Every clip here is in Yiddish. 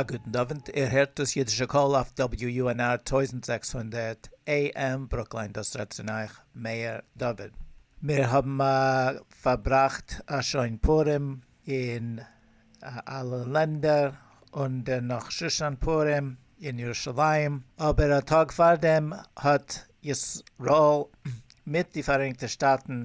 א גוטן אווענט, איר הערט דאס אידישע קול אויף WUNR טויזנט זעקס הונדערט AM ברוקלין דאס רעדט צון אייך מאיר דוד. מיר האבן פארבראכט א שוין פורים אין אלע לענדער און דערנאך שושן פורים אין ירושלים, אבער א טאג פארדעם האט ישראל מיט די פאראייניגטע שטאטן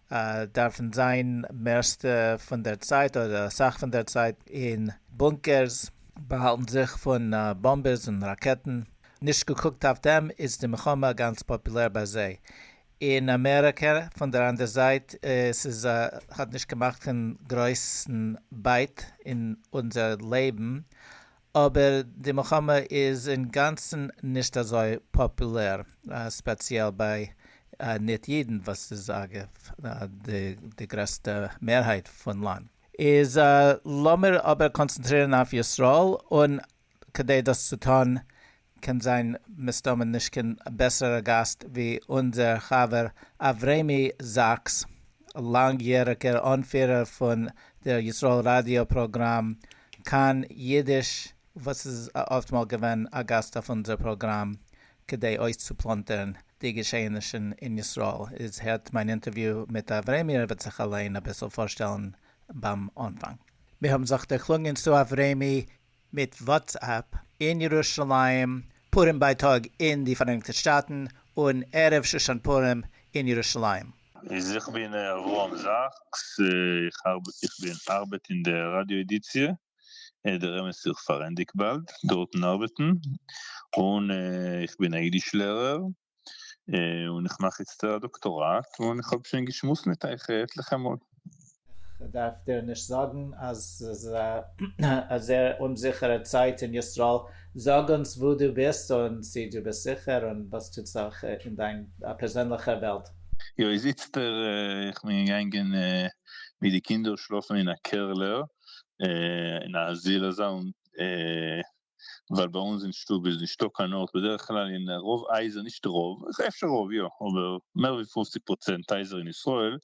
דארפן זיין מערסטע פון דער צייט אדער אסאך פון דער צייט אין בונקערס, באהאלטן זיך פון באמבעס און ראקעטן. נישט געקוקט אויף דעם איז די מלחמה גאנץ פאפולער ביי זיי. אין אמעריקע פון דער אנדער זייט, עס איז האט נישט געמאכט קיין גרויסן בייט אין אונזער לעבן, אבער די מלחמה איז אינגאנצן נישט אזוי פאפולער, ספעציעל ביי ניט אידן וואס איז אגב די גרעסטע מערהייט פון לאנד, איז לאמיר אבער קאנצענטרירן אויף ישראל, און כדי דאס צו טאן קען זיין מסתמא נישט קיין בעסערע גאסט ווי אונזער חבר אברעמי זאקס, לאנג יעריגער אנפירער פון דער ישראל ראדיא פראגראם כאן אידיש וואס איז אפט מאל געווען א גאסט אויף אונזער פראגראם כדי אויסצופלאנטערן די געשעהענישן אין ישראל, איז הערט מיין אינטערוויו מיט אברעמי ער וועט זיך אליין אביסל פארשטעלן ביים אנפאנג. מיר האבן זיך דערקלונגען צו אברעמי מיט וואטסעפפ, אין ירושלים, פורים בייטאג אין די פאראייניגטע שטאטן, און ערב שושן פורים אין ירושלים. איז איך בין אברהם זאקס איך ארבעט איך בין ארבעט אין די ראדיא עדיציע דער אמת איז איך פארענדיג באלד דארטן ארבעטן און איך בין א אידיש לערער. און איך מאך איצט א דאקטאראט און איך האב שוין געשמועסט מיט אייך עטליכע מאל. איך דארף דיר נישט זאגן אז ס'איז א זייער אומזיכערע צייט אין ישראל, זאג אונז וואו דו ביסט און צי דו ביסט זיכער און וואס טוט זיך אין דיין פערזענליכע וועלט. יא איז איצטער איך בין געגאנגען מיט די קינדער שלאפן אין א קערלער אין א זיל אזא און ווייל ביי אונז אין שטוב איז נישטא קיין ארט בדרך כלל אין רוב הייזער נישט רוב אפשר רוב יא אבער מער ווי פופציג פראצענט הייזער אין ישראל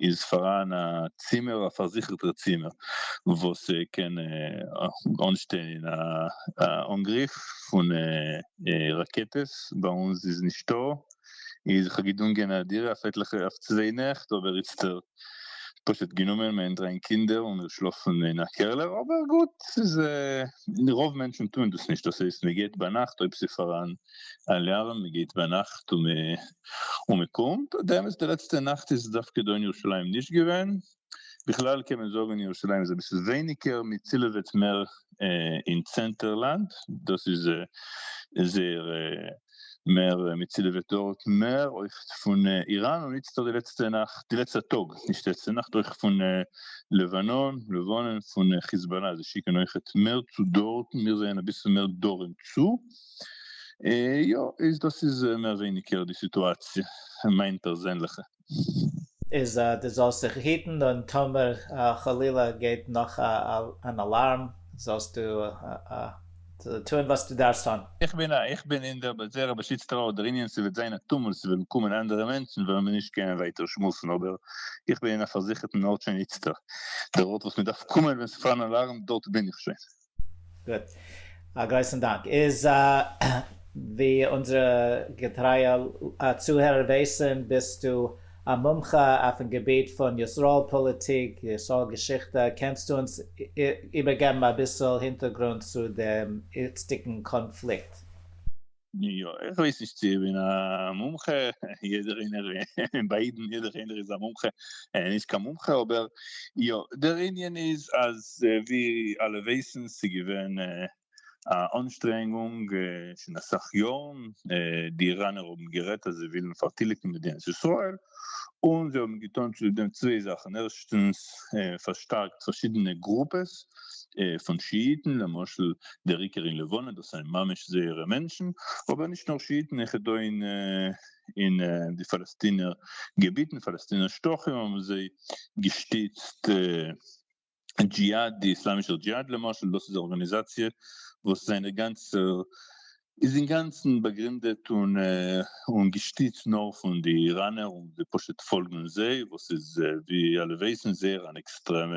איז פאראן א צימער א פארזיכערטע צימער וואס קען אנשטיין א אנגריף פון ראקעטעס ביי אונז איז נישטא איז איך האב געדונגען א דירה אויף עטליכע אויף צוויי נעכט אבער איצטער פשוט גענומען מען דרענגט קינדער און מיר שלאפן אין א קעלער אבער גוט ס'איז רוב מענטשן טוען דאס נישט דאס הייסט מען גייט ביינאכט אויב ס'איז פארהאן אלארם מען גייט ביינאכט און מען קומט און באמת די לעצטע נאכט איז דווקא דא אין ירושלים נישט געווען בכלל קען מען זאגן ירושלים איז אביסל ווייניגער מען צילעוועט מער אין צענטער לאנד דאס איז זייער מער מצילע וועט דארט מער אויך פון איראן און איצטער די לעצטע נאכט די לעצטע טאג נישט די לעצטע נאכט אויך פון לבנון לבנון פון חיזבאלא זיי שיקען אויכעט מער צו דארטן מיר זענען אביסל מער דרום צו יא איז דאס איז מער ווייניגער די סיטואציע מיין פערזענליכע איז אז דו זאלסט זיך היטן און טאמער חלילה געבט נאך אן אלארם זאלסטו טון וואס דו דארפסט טון. איך בין א איך בין אין דער בזערא בשיץ טראו דער ענין ס'וועט זיין א טומל ס'וועלן קומען אנדערע מענטשן וועלן מיר נישט קענען ווייטער שמועסן אבער איך בין אין א פארזיכערטן ארט שוין איצטער דער ארט וואס מ'דארף קומען ווען ס'פארן אלארם דארט בין איך שוין. גוט. א גרויסן דאנק. איז ווי אונזערע געטרייע צוהערער ווייסן ביסטו א מומחה אויפן געביט פון ישראל פאליטיק, ישראל געשיכטע, קענסטו אונז איבערגעבן אביסל הינטערגרונד צו דעם איצטיגן קאנפליקט? יא, איך ווייס נישט צו איך בין א מומחה, יעדער איינער און ביי אידן יעדער איינער איז א מומחה און נישט קיין מומחה, אבער יא, דער ענין איז אז ווי אלע ווייסן ס'איז געווען א אנשטרענגונג שוין אסאך יארן, די איראנער האבן גערעדט אז זיי ווילן פארטיליגן מדינת ישראל, און זיי האבן געטון צוליב דעם צוויי זאכן, ערשטנס פארשטארקט פארשידענע גרופעס פון שיאיטן, למשל דער עיקר אין לבנון, דאס זענען ממש זייערע מענטשן, אבער נישט נאר שיאיטן, אויך דא אין די פאלעסטינער געביטן, פאלעסטינער שטחים, האבן זיי געשטיצט. דזשיהאד, די איסלאמישער דזשיהאד למשל, דאס איז א ארגאניזאציע וואס זיינע גאנצע איז אינגאנצן באגרינדעט און און געשטיצט נאר פון די איראנער און די פשוט פאלגן זיי, וואס איז ווי אלע ווייסן זייער אן עקסטרעמע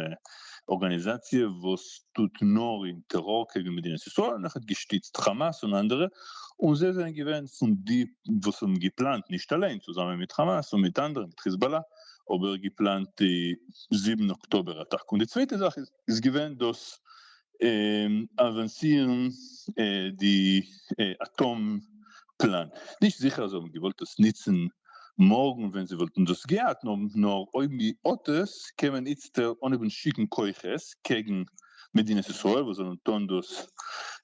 ארגאניזאציע וואס טוט נאר אין טעראר קעגן מדינת ישראל און אויך געשטיצט חאמאס און אנדערע, און זיי זענען געווען פון די וואס האבן געפלאנט, נישט אליין, צוזאמען מיט חאמאס און מיט אנדערע, מיט חיזבאלא, אבער געפלאנט די זיבן אקטאבער אטאקע, און די צווייטע זאך איז געווען דאס אווענסירן די אטאם פלאן, נישט זיכער אז זיי האבן געוואלט עס נוצן מארגן ווען זיי וואלטן דאס געהאט, נאר אויב מען האט עס קען מען איצטער אנהייבן שיקן כוחות קעגן מדינת ישראל וואס זאלן טון דאס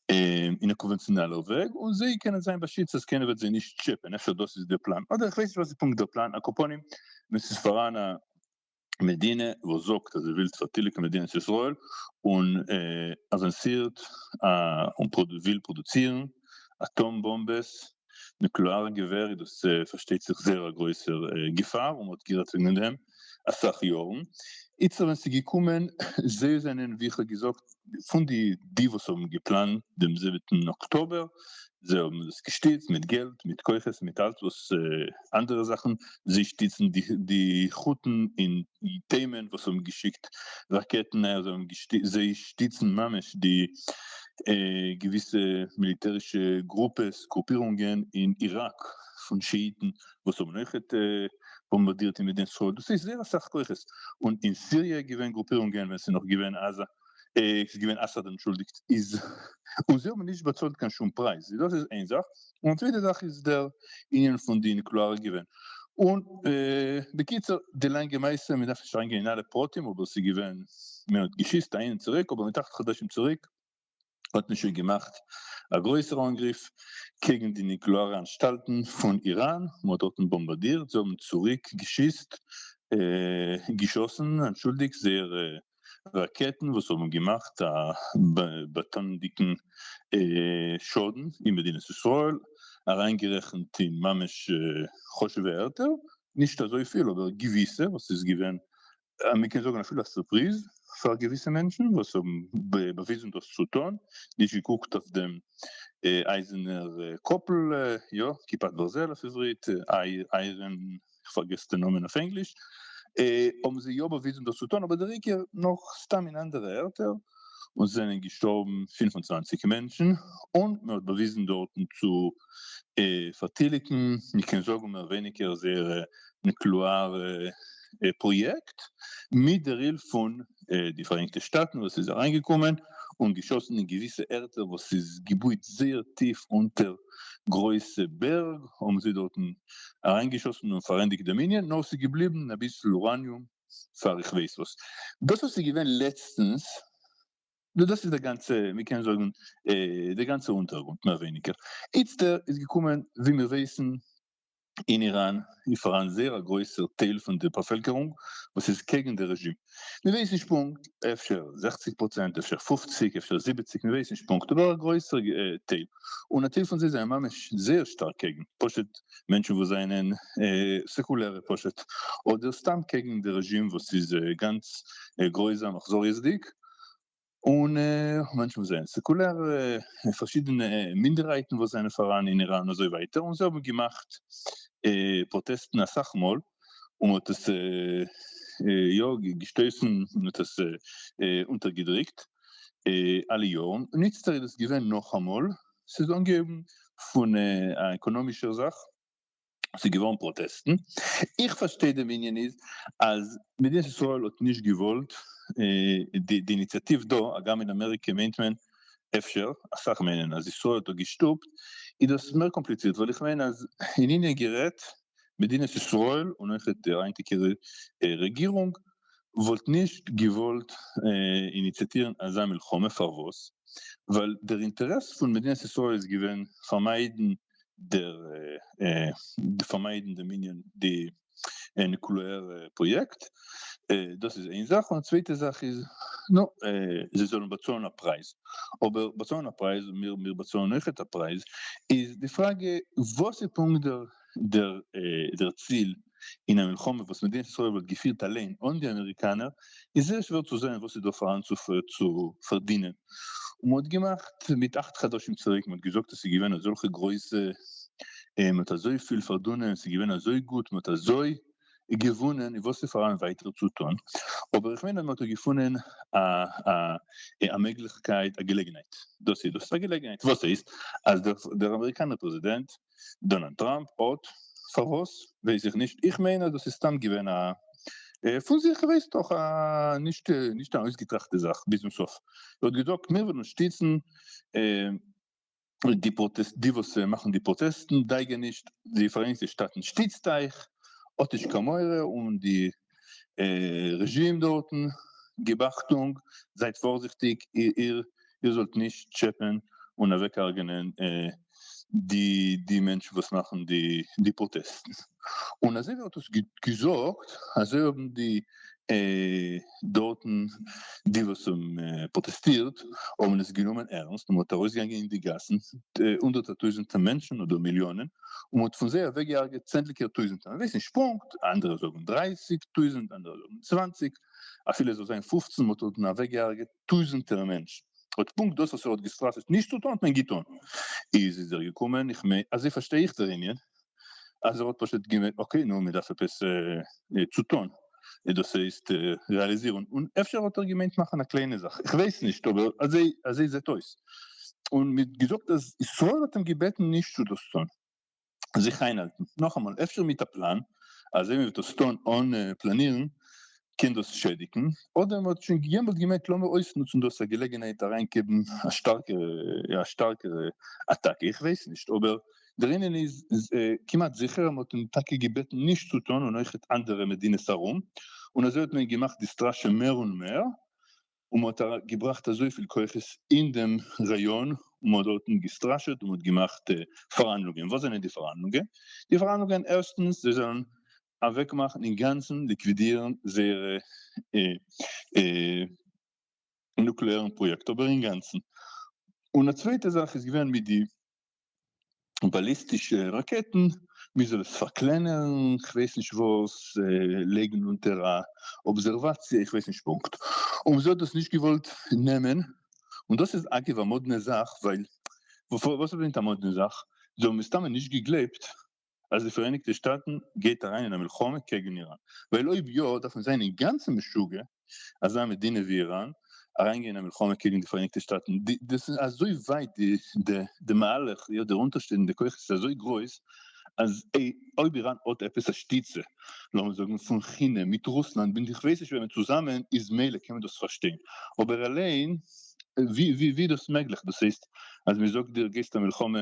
אין א קאנווענציאנאלער וועג און זיי קענען זיין באשיצט אז קיינער וועט זיי נישט טשעפען, אפשר דאס איז דער פלאן אדער איך ווייס נישט וואס איז פונקט דער פלאן, אקאפונים ווען ס'איז פאראן א מדינה וואס זאגט אז זי וויל פארטיליגן מדינת ישראל און אווענסירט און וויל פראדוצירן אטאם באמבעס נוקלעארע געווער איז דאס פארשטייט זיך זייער א גרויסער געפאר און מ'האט גערעדט וועגן דעם אסאך יארן, איצטער ווען ס'איז געקומען, זיי זענען ווי איך האב געזאגט פון די די וואס האבן געפלאנט דעם זיבעטן אקטאבער, זיי האבן דאס געשטיצט מיט געלט מיט כוחות מיט אלץ וואס אנדערע זאכן, זיי שטיצן די חתן אין תימן וואס האבן געשיקט ראקעטן, זיי שטיצן ממש די געוויסע מיליטערישע גרופעס, גרופירונגען, אין איראק פון שאיטן וואס האבן אויך באמבארדירט אין מדינת ישראל, דאס איז זייער אסאך כוחות, און אין סיריע איז געווען גרופירונגען ווען ס'איז נאך געווען עזה, ס'איז געווען אסאד אנטשולדיגט, און זיי האבן נישט באצאלט קיין שום פרייז, דאס איז איין זאך, און צווייטע זאך איז דער ענין פון די אינקלארע געווען און בקיצור די לאנגע מעשה מ'דארף נישט אריינגיין אין אלע פרטים אבער ס'איז געווען מען האט געשיסט אהין און צוריק אבער מיט אכט חדשים צוריק האט מען שוין געמאכט א גרויסער אנגריף קעגן די נוקלעארע אנשטאלטן פון איראן מען האט דארטן באמבאדירט זיי האבן צוריק געשיסט געשאסן אנטשולדיגט זייער ראקעטן וואס האבן געמאכט א באטאנ'דיגן שאדן אין מדינת ישראל, אריינגערעכנט אין ממש חשוב'ע ערטער, נישט אזויפיל אבער געוויסע, וואס איז געווען מ'קען זאגן אפילו א סורפריז פאר געוויסע מענטשן וואס האבן באוויזן דאס צו טון, נישט געקוקט אויף דעם אייזענער קאפל, יא, כיפת ברזל אויף עברית, איירען איך פארגעס די נאמען אויף ענגליש, האבן זיי יא באוויזן דאס צו טון, אבער דער עיקר נאך סתם אין אנדערע ערטער, און ס'זענען געשטארבן פֿינף און צוואַנציק מענטשן, און מען האט באוויזן דארטן צו פארטיליגן, מען קען זאגן מער ווייניגער זייערע נוקלעארע פראיעקט, מיט דער הילף פון די פאראייניגטע שטאטן וואס איז אריינגעקומען און געשאסן אין געוויסע ערטער וואס איז געבויט זייער טיף אונטער גרויסע בערג, האבן זיי דארטן אריינגעשאסן און פארענדיגט די מנין, נאר ס'איז געבליבן אביסל אוראניום פאר איך ווייס וואס. דאס וואס איז געווען לעצטנס, דאס איז די גאנצע, מ'קען זאגן, די גאנצע אונטערגרונט מער ווייניגער. איצטער איז געקומען, ווי מיר ווייסן, אין איראן איז פאראן זייער א גרויסער טייל פון די באפעלקערונג וואס איז קעגן די רעזשים, מ'ווייסט נישט פונקט, אפשר זעכציג פראצענט, אפשר פופציג, אפשר זיבעציג, מ'ווייסט נישט פונקט, אבער א גרויסער טייל, און א טייל פון זיי זענען ממש זייער שטארק קעגן, פשוט מענטשן וואס זענען סעקולערע פשוט, אדער סתם קעגן די רעזשים וואס איז גאנץ גרויזאם אכזריות'דיג, און מאנכע וואס זענען סעקולער, פארשידענע מינדערהייטן וואס זענען פאראן אין איראן אזוי ווייטער, און זיי האבן געמאכט פראטעסטן אסאך מאל, און מען האט עס יא געשטויסן, מען האט עס אונטערגעדריקט אלע יארן, און איצטער איז עס געווען נאכאמאל, ס'איז אנגעהויבן פון א עקאנאמישער זאך, ס'איז געווארן פראטעסטן, איך פארשטיי דעם ענין איז אז מדינת ישראל האט נישט געוואלט די איניציאטיוו דא, הגם אין אמעריקע מיינט מען אפשר, אסאך מיינען אז ישראל האט דא געשטופט, איז דאס מער קאמפליצירט ווייל איך מיין אז אין ענין גערעדט מדינת ישראל און אויך די היינטיגע רעגירונג וואלט נישט געוואלט איניציאטירן אזא מלחמה, פארוואס? ווייל דער אינטערעס פון מדינת ישראל איז געווען פארמיידן פארמיידן דעם ענין די נוקלעארע פראיעקט, דאס איז איין זאך, און צווייטע זאך איז נו זיי זאלן באצאלן א פרייז, אבער באצאלן א פרייז, מיר באצאלן אויכעט א פרייז, איז די פראגע וואס איז פונקט דער ציל אין א מלחמה וואס מדינת ישראל וואלט געפירט אליין אן די אמעריקאנער איז זייער שווער צו זען וואס איז דא פארהאן צו פארדינען און מען האט געמאכט מיט אַכט חדשים צוריק מען האט געזאגט אז ס'איז געווען אזעלכע גרויסע מען האט אזויפיל פארדונען ס'איז געווען אזוי גוט מען האט אזוי געוואונען און וואס איז פארהאן ווייטער צו טון אבער איך מיין אז מען האט דא געפונען א א א מעגליכקייט א געלעגנהייט דאס איז דאס א געלעגנהייט וואס הייסט אז דער אמעריקאנער פרעזידענט דאנעלד טראמפ האט פארוואס ווייס איך נישט איך מיין אז דאס איז סתם געווען א פון זיך ווייסט דאך א נישט נישט א אויסגעטראכטע זאך ביזן סוף ער האט געזאגט מיר וועלן שטיצן די פראטעסט די וואס מאכן די פראטעסטן דאגה נישט די פאראייניגטע שטאטן שטיצט אייך האט נישט קיין מורא און די רעזשים דארטן, גיב אכטונג, זייט פארזיכטיג איר זאלט נישט טשעפען און אוועקהרג'ענען די מענטשן וואס מאכן די פראטעסטן, און אזוי ווי ער האט עס געזאגט אזוי האבן די דארטן די וואס האבן פראטעסטירט האבן עס גענומען ערנסט און מען האט ארויסגעגאנגען אין די גאסן הונדערטער טויזענטער מענטשן אדער מיליאנען און מען האט פון זיי אוועקגעהרגעט צענדליגער טויזנטער, מען ווייסט נישט פונקט, אנדערע זאגן דרײַסיק טויזנט, אנדערע זאגן צוואַנציק, אפילו עס זאל זיין פֿופֿצן, מען האט דארטן אוועקגעהרגעט טויזנטער מענטשן, האט פונקט דאס וואס ער האט געסטראשעט נישט צו טון האט מען געטון, איז איז ער געקומען, איך מיין, אזוי פארשטיי איך דער ענין, אז ער האט פשוט געווען, אקעי נו, מען דארף עפעס צו טון. דאס הייסט רעאליזירן און אפשר האט ער געמיינט מאכן א קליינע זאך איך ווייס נישט אבער אזוי אזוי זעט אויס און מען האט געזאגט אז ישראל האט אים געבעטן נישט צו דאס טון זיך איינהאלטן נאכאמאל אפשר מיט א פלאן אזוי מען וועט דאס טון אן פלאנירן קען דאס שעדיגן אדער מען האט שוין יעמאלט געמיינט לאמיר אויסנוצן דאס א געלעגענהייט אריינגעבן א שטארקערע א שטארקערע אטאקע איך ווייס נישט אבער דערינען איז כמעט זיכער אז מען האט אים טאקע געבעטן נישט צו טון און אויך אנדערע מדינות ארום, און אזוי האט מען געמאכט די סטראשע מער און מער, און מען האט געבראכט אזויפיל כוחות אין דעם ראיאן, און מען האט דארטן געסטראשעט און מען האט געמאכט פארהאנדלונגען, וואס זענען די פארהאנדלונגען? די פארהאנדלונגען ערשטנס זיי זאלן אוועקמאכן אינגאנצן ליקווידירן זייערע נוקלעארן פראיעקט אבער אינגאנצן, און א צווייטע זאך איז געווען מיט די באליסטישע ראקעטן, מ'זאל עס פארקלענערן, כ'ווייס נישט וואס, לייגן אונטער א אבזערוואציע, איך ווייס נישט פונקט, און זי האט דאס נישט געוואלט נעמען, און דאס איז אגב א מאדנע זאך, ווייל וואס מיינט א מאדנע זאך? זיי האבן מסתמא נישט געגלייבט אז די פאראייניגטע שטאטן גייט אריין אין א מלחמה קעגן איראן, ווייל אויב יא דארף מען זיין אינגאנצן משוגע אזא מדינה ווי איראן אריינגיין אין א מלחמה קעגן די פאראייניגטע שטאטן, דאס איז אזוי ווייט די מהלך, יא די אונטערשטעליגנדע כוחות איז אזוי גרויס אז אויב איראן האט עפעס א שטיצע לאמיר זאגן פון כינע מיט רוסלאנד מיט איך ווייס נישט וועמען צוזאמען איז מילא קען מען דאס פארשטיין, אבער אליין ווי איז דאס מעגליך, דאס הייסט אז מען זאגט דיר גייסט א מלחמה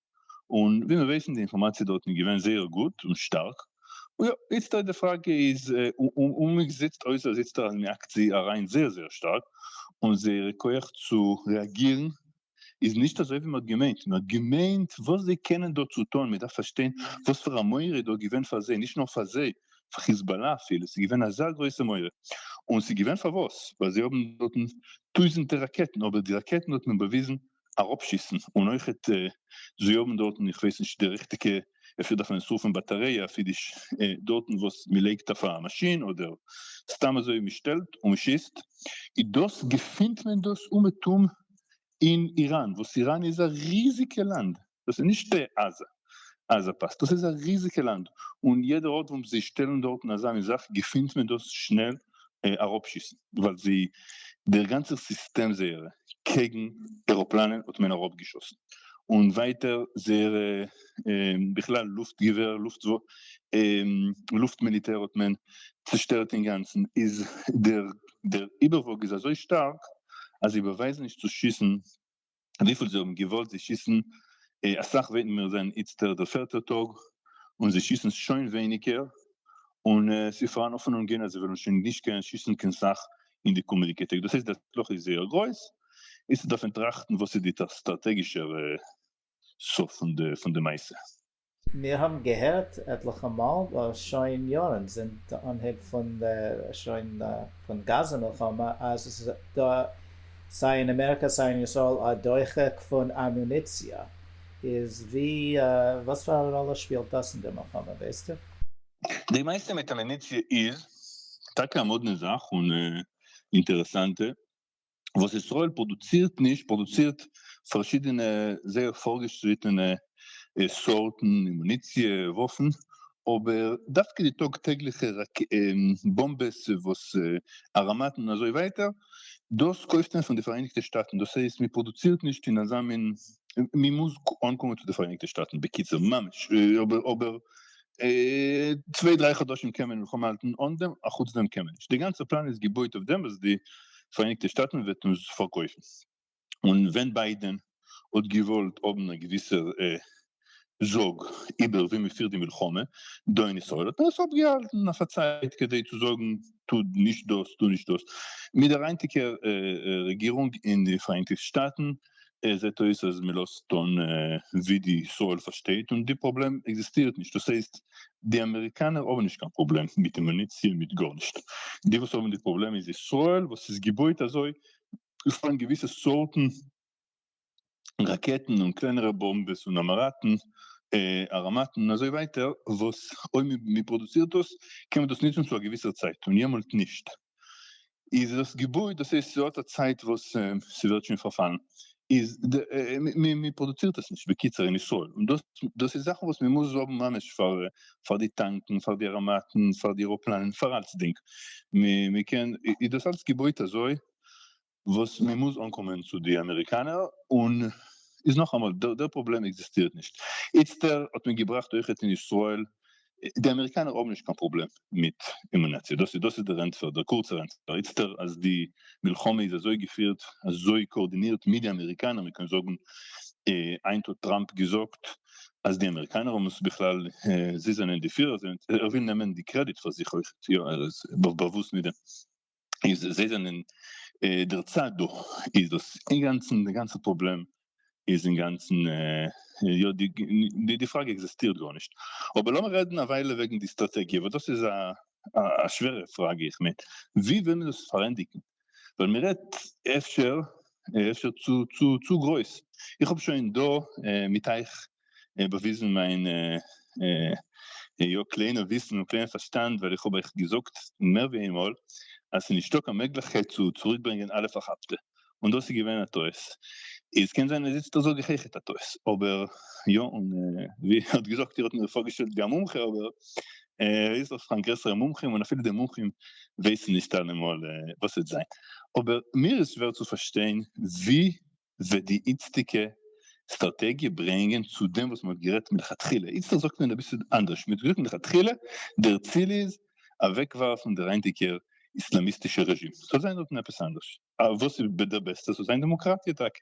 און ווי מיר ווייסן די אינפארמאציע דארטן איז געווען זייער גוט און שטארק, און יא איצטערט די פראגע איז און מען זעצט אויס אז איצטערט אז מען עקט זי אריין זייער זייער שטארק און זייערע כח צו רעאגירן איז נישט אזוי ווי מען האט געמיינט, מען האט געמיינט וואס זיי קענען דא צו טון, מען דארף פארשטיין וואס פאר א מורא איז דא געווען פאר זיי, נישט נאר פאר זיי, פאר חיזבאלא אפילו, ס'איז געווען אזא גרויסע מורא, און ס'איז געווען פארוואס, ווייל זיי האבן דארטן טויזענטער ראקעטן, אבער די ראקעטן האט מען באוויזן אראפשיסן און אויכעט זיי האבן דארטן איך ווייס נישט די ריכטיגע אפשר דארף מען עס רופן באטעריי אפי' די דארטן וואס מען לייגט אויף א מאשין אדער סתם אזוי מען שטעלט און מען שיסט איז דאס געפינט מען דאס אומעטום אין איראן וואס איראן איז א ריזיגע לאנד דאס איז נישט בעזה, עזה פאסט, דאס איז א ריזיגע לאנד, און יעדע ארט וואס זיי שטעלן דארטן אזאנע זאך געפינט מען דאס שנעל אראפשיסן, ווייל זיי דער גאנצער סיסטעם זייערע קעגן עראפלאנען האט מען אראפגעשאסן, און ווייטער זייערע בכלל לופט געווער לופט לופט מיליטער האט מען צושטערט אינגאנצן, איז דער דער איבערוואג איז אזוי שטארק אז זיי באווייזן נישט צו שיסן וויפיל זיי האבן געוואלט, זיי שיסן אסאך וועטן מיר זען איצטער דער פערטער טאג, און זיי שיסן שוין ווייניגער, און עס איז פארהאן האפענונגען אז זיי וועלן שוין נישט קענען שיסן קיין סאך אין די קומענדיגע טעג, דאס הייסט די הצלחה איז זייער גרויס, איצט דארף מען טראכטן וואס איז די סטראטעגישער סוף פון די מעשה. מיר האבן געהערט עטליכע מאל דאס שוין יארן, זינט די אנהייב פון דער שוין פון גאזע מלחמה, אז עס איז דא סיי אין אמעריקא סיי אין ישראל א דוחק פון אמוניציע. איז ווי וואס פאר א ראלע שפילט דאס אין די מלחמה, ווייסטו? די מעשה מיט אמוניציע איז טאקע א מאדנע זאך און אינטערעסאנטע. וואס ישראל פראדוצירט נישט, פראדוצירט פארשידענע זייער פארגעשריטענע סארטן אמוניציע, וואפן, אבער דווקא די טאג טעגליכע באמבעס וואס אראמאטן און אזוי ווייטער, דאס קויפט מען פון די פאראייניגטע שטאטן, דאס הייסט מען פראדוצירט נישט אין אזא מין, מען מוז אנקומען צו די פאראייניגטע שטאטן, בקיצור ממש, אבער צוויי דריי חדשים קען מען מלחמה האלטן אן דעם, אחוץ דעם קען מען נישט. די גאנצע פלאן איז געבויט אויף דעם וואס די פאראייניגטע שטאטן וועט אונז פארקויפן. און ווען ביידען האט געוואלט האבן א געוויסע זאג איבער ווי מען פירט די מלחמה דא אין ישראל האט מען עס אפגעהאלטן אויף א צייט כדי צו זאגן טו נישט דאס טו נישט דאס. מיט דער היינטיגער רעגירונג אין די פאראייניגטע שטאטן עס זעט אויס אז מען לאזט טון ווי די ישראל פארשטייט און די פראבלעם עקזיסטירט נישט, דאס הייסט די אמעריקאנער האבן נישט קיין פראבלעם מיט די מוניציע מיט גארנישט, די וואס האבן די פראבלעם איז ישראל וואס איז געבויט אזוי עס פאלן געוויסע סארטן ראקעטן און קלענערע באמבעס און האמאראטן האראמאטן אזוי ווייטער וואס אויב מען פראדוצירט דאס קען מען דאס נוצן צו א געוויסער צייט און יעמאלט נישט. איז דאס געבוי דאס הייסט ס'האט א צייט וואס ס'ווערט שוין פארפאלן איז מען פראדוצירט עס נישט בקיצור אין ישראל און דאס דאס איז זאכן וואס מען מוז האבן ממש פאר פאר די טאנקן פאר די אראמאטן פאר די עראפלאנען פאר אלצדינג מען קען איז דאס אלץ געבויט אזוי וואס מען מוז אנקומען צו די אמעריקאנער און איז נאכאמאל דער פראבלעם עקזיסטירט נישט איצטער האט מען געבראכט אויכעט אין ישראל די אמעריקאנער האבן נישט קיין פראבלעם מיט אמונאציע דאס דאס איז דער ענטפער דער קורצער ענטפער איצטער אז די מלחמה איז אזוי געפירט אזוי קאארדינירט מיט די אמעריקאנער מען קען זאגן היינט האט טראמפ געזאגט אז די אמעריקאנער האבן עס בכלל זיי זענען די פירער זיי ער וויל נעמען די קרעדיט פאר זיך אויכעט יא ער איז באוואוסט מיט דעם. איז זיי זענען דער צד דא איז דאס אינגאנצן די גאנצע פראבלעם איז אינגאנצן יא די די פראגע עקזעסטירט גארנישט אבער לאמיר רעדן א וויילע וועגן די סטראטעגיע וואס דאס איז א שווערע פראגע איך מיין ווי וויל מען דאס פארענדיגן ווייל מען רעדט אפשר אפשר צו צו צו גרויס איך האב שוין דא מיט אייך באוויזן מיין יא קליינע וויסן און קליינע פארשטאנד ווייל איך האב אייך געזאגט מער ווי איינמאל אז ס'איז נישטא קיין מעגליכקייט צו צוריק ברענגען אלע פארכאפטע און דאס איז געווען א טעות איז קען זיין אז איצטער זאג איך אייך איז א טעות אבער יא און ווי איר האט געזאגט איר האט מיר פארגעשטעלט ווי א מומחה אבער ער איז דאך פאר גרעסערע מומחים און אפילו די מומחים ווייסן נישט אלעמאל וואס וועט זיין אבער מיר איז שווער צו פארשטיין ווי וועט די איצטיגע סטראטעגיע ברענגען צו דעם וואס מען האט גערעדט מלכתחילה, איצטערט זאגט מען אביסל אנדערש, מען האט געזאגט מלכתחילה דער ציל איז אוועקווארפן דער היינטיגער איסלאמיסטישער רעזשים, ס'זאל זיין דארטן עפעס אנדערש, וואס איז דער בעסטער? ס'זאל זיין דעמאקראטיע טאקע,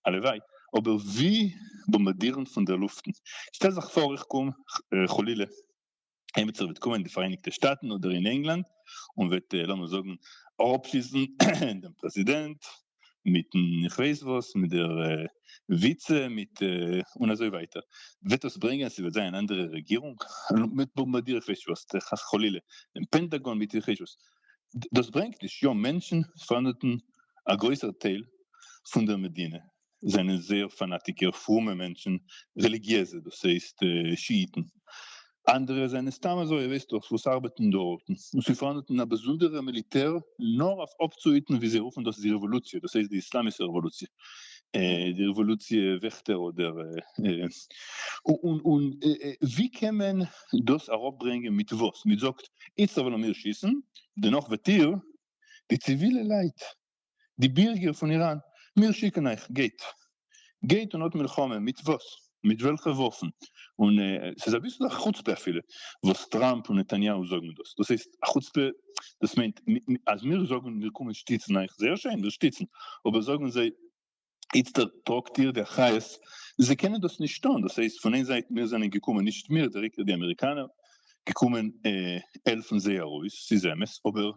הלוואי, אבער ווי? באמבאדירן פון דער לופטן? שטעל זיך פאר איך קום, חלילה, עימיצער וועט קומען אין די פאראייניגטע שטאטן אדער אין ענגלאנד און וועט לאמיר זאגן אראפשיסן דעם פרעזידענט מיטן איך ווייס וואס מיט דער וויצע מיט און אזוי ווייטער וועט דאס ברענגען ס'וועט זיין אן אנדערע רעגירונג מיט באמבאדירן איך ווייס נישט וואס חס וחלילה דעם פענטאגאן מיט איך ווייס נישט וואס דאס ברענגט נישט יא מענטשן פארענדעטן א גרויסער טייל פון דער מדינה זענען זייער פאנאטיקער פרומע מענטשן, רעליגיעזע דאס הייסט שיאיטן, אנדערע זענען סתם אזוי וועסטאס וואס ארבעטן דארטן, און ס'איז פארהאנדן א באזונדערע מיליטער נאר אויף אפצוהיטן ווי זיי רופן דאס די רעוואלוציע דאס הייסט די איסלאמישע רעוואלוציע, די רעוואלוציע וועכטער אדער און און ווי קען מען דאס אראפברענגען מיט וואס? מיט זאגט איצטער וועלן מיר שיסן דערנאך וועט איר די ציווילע לייט די בירגער פון איראן, מיר שיקן אייך, גייט. גייט און האט מלחמה, מיט וואס? מיט וועלכע וואפן? און ס'איז אביסל א חוצפה אפילו וואס טראמפ און נתניהו זאגן דאס, דאס הייסט א חוצפה, דאס מיינט אז מיר זאגן מיר קומען שטיצן אייך, זייער שיין, מיר שטיצן, אבער זאגן זיי איצטער טראָגט איר די אחריות, זיי קענען דאָס נישט טאָן, דאָס הייסט, פון איין זייט, מיר זיינען געקומען, נישט מיר, דירעקט די אמעריקאנער, געקומען העלפן זיי ארויס, ס'איז אמת, אָבער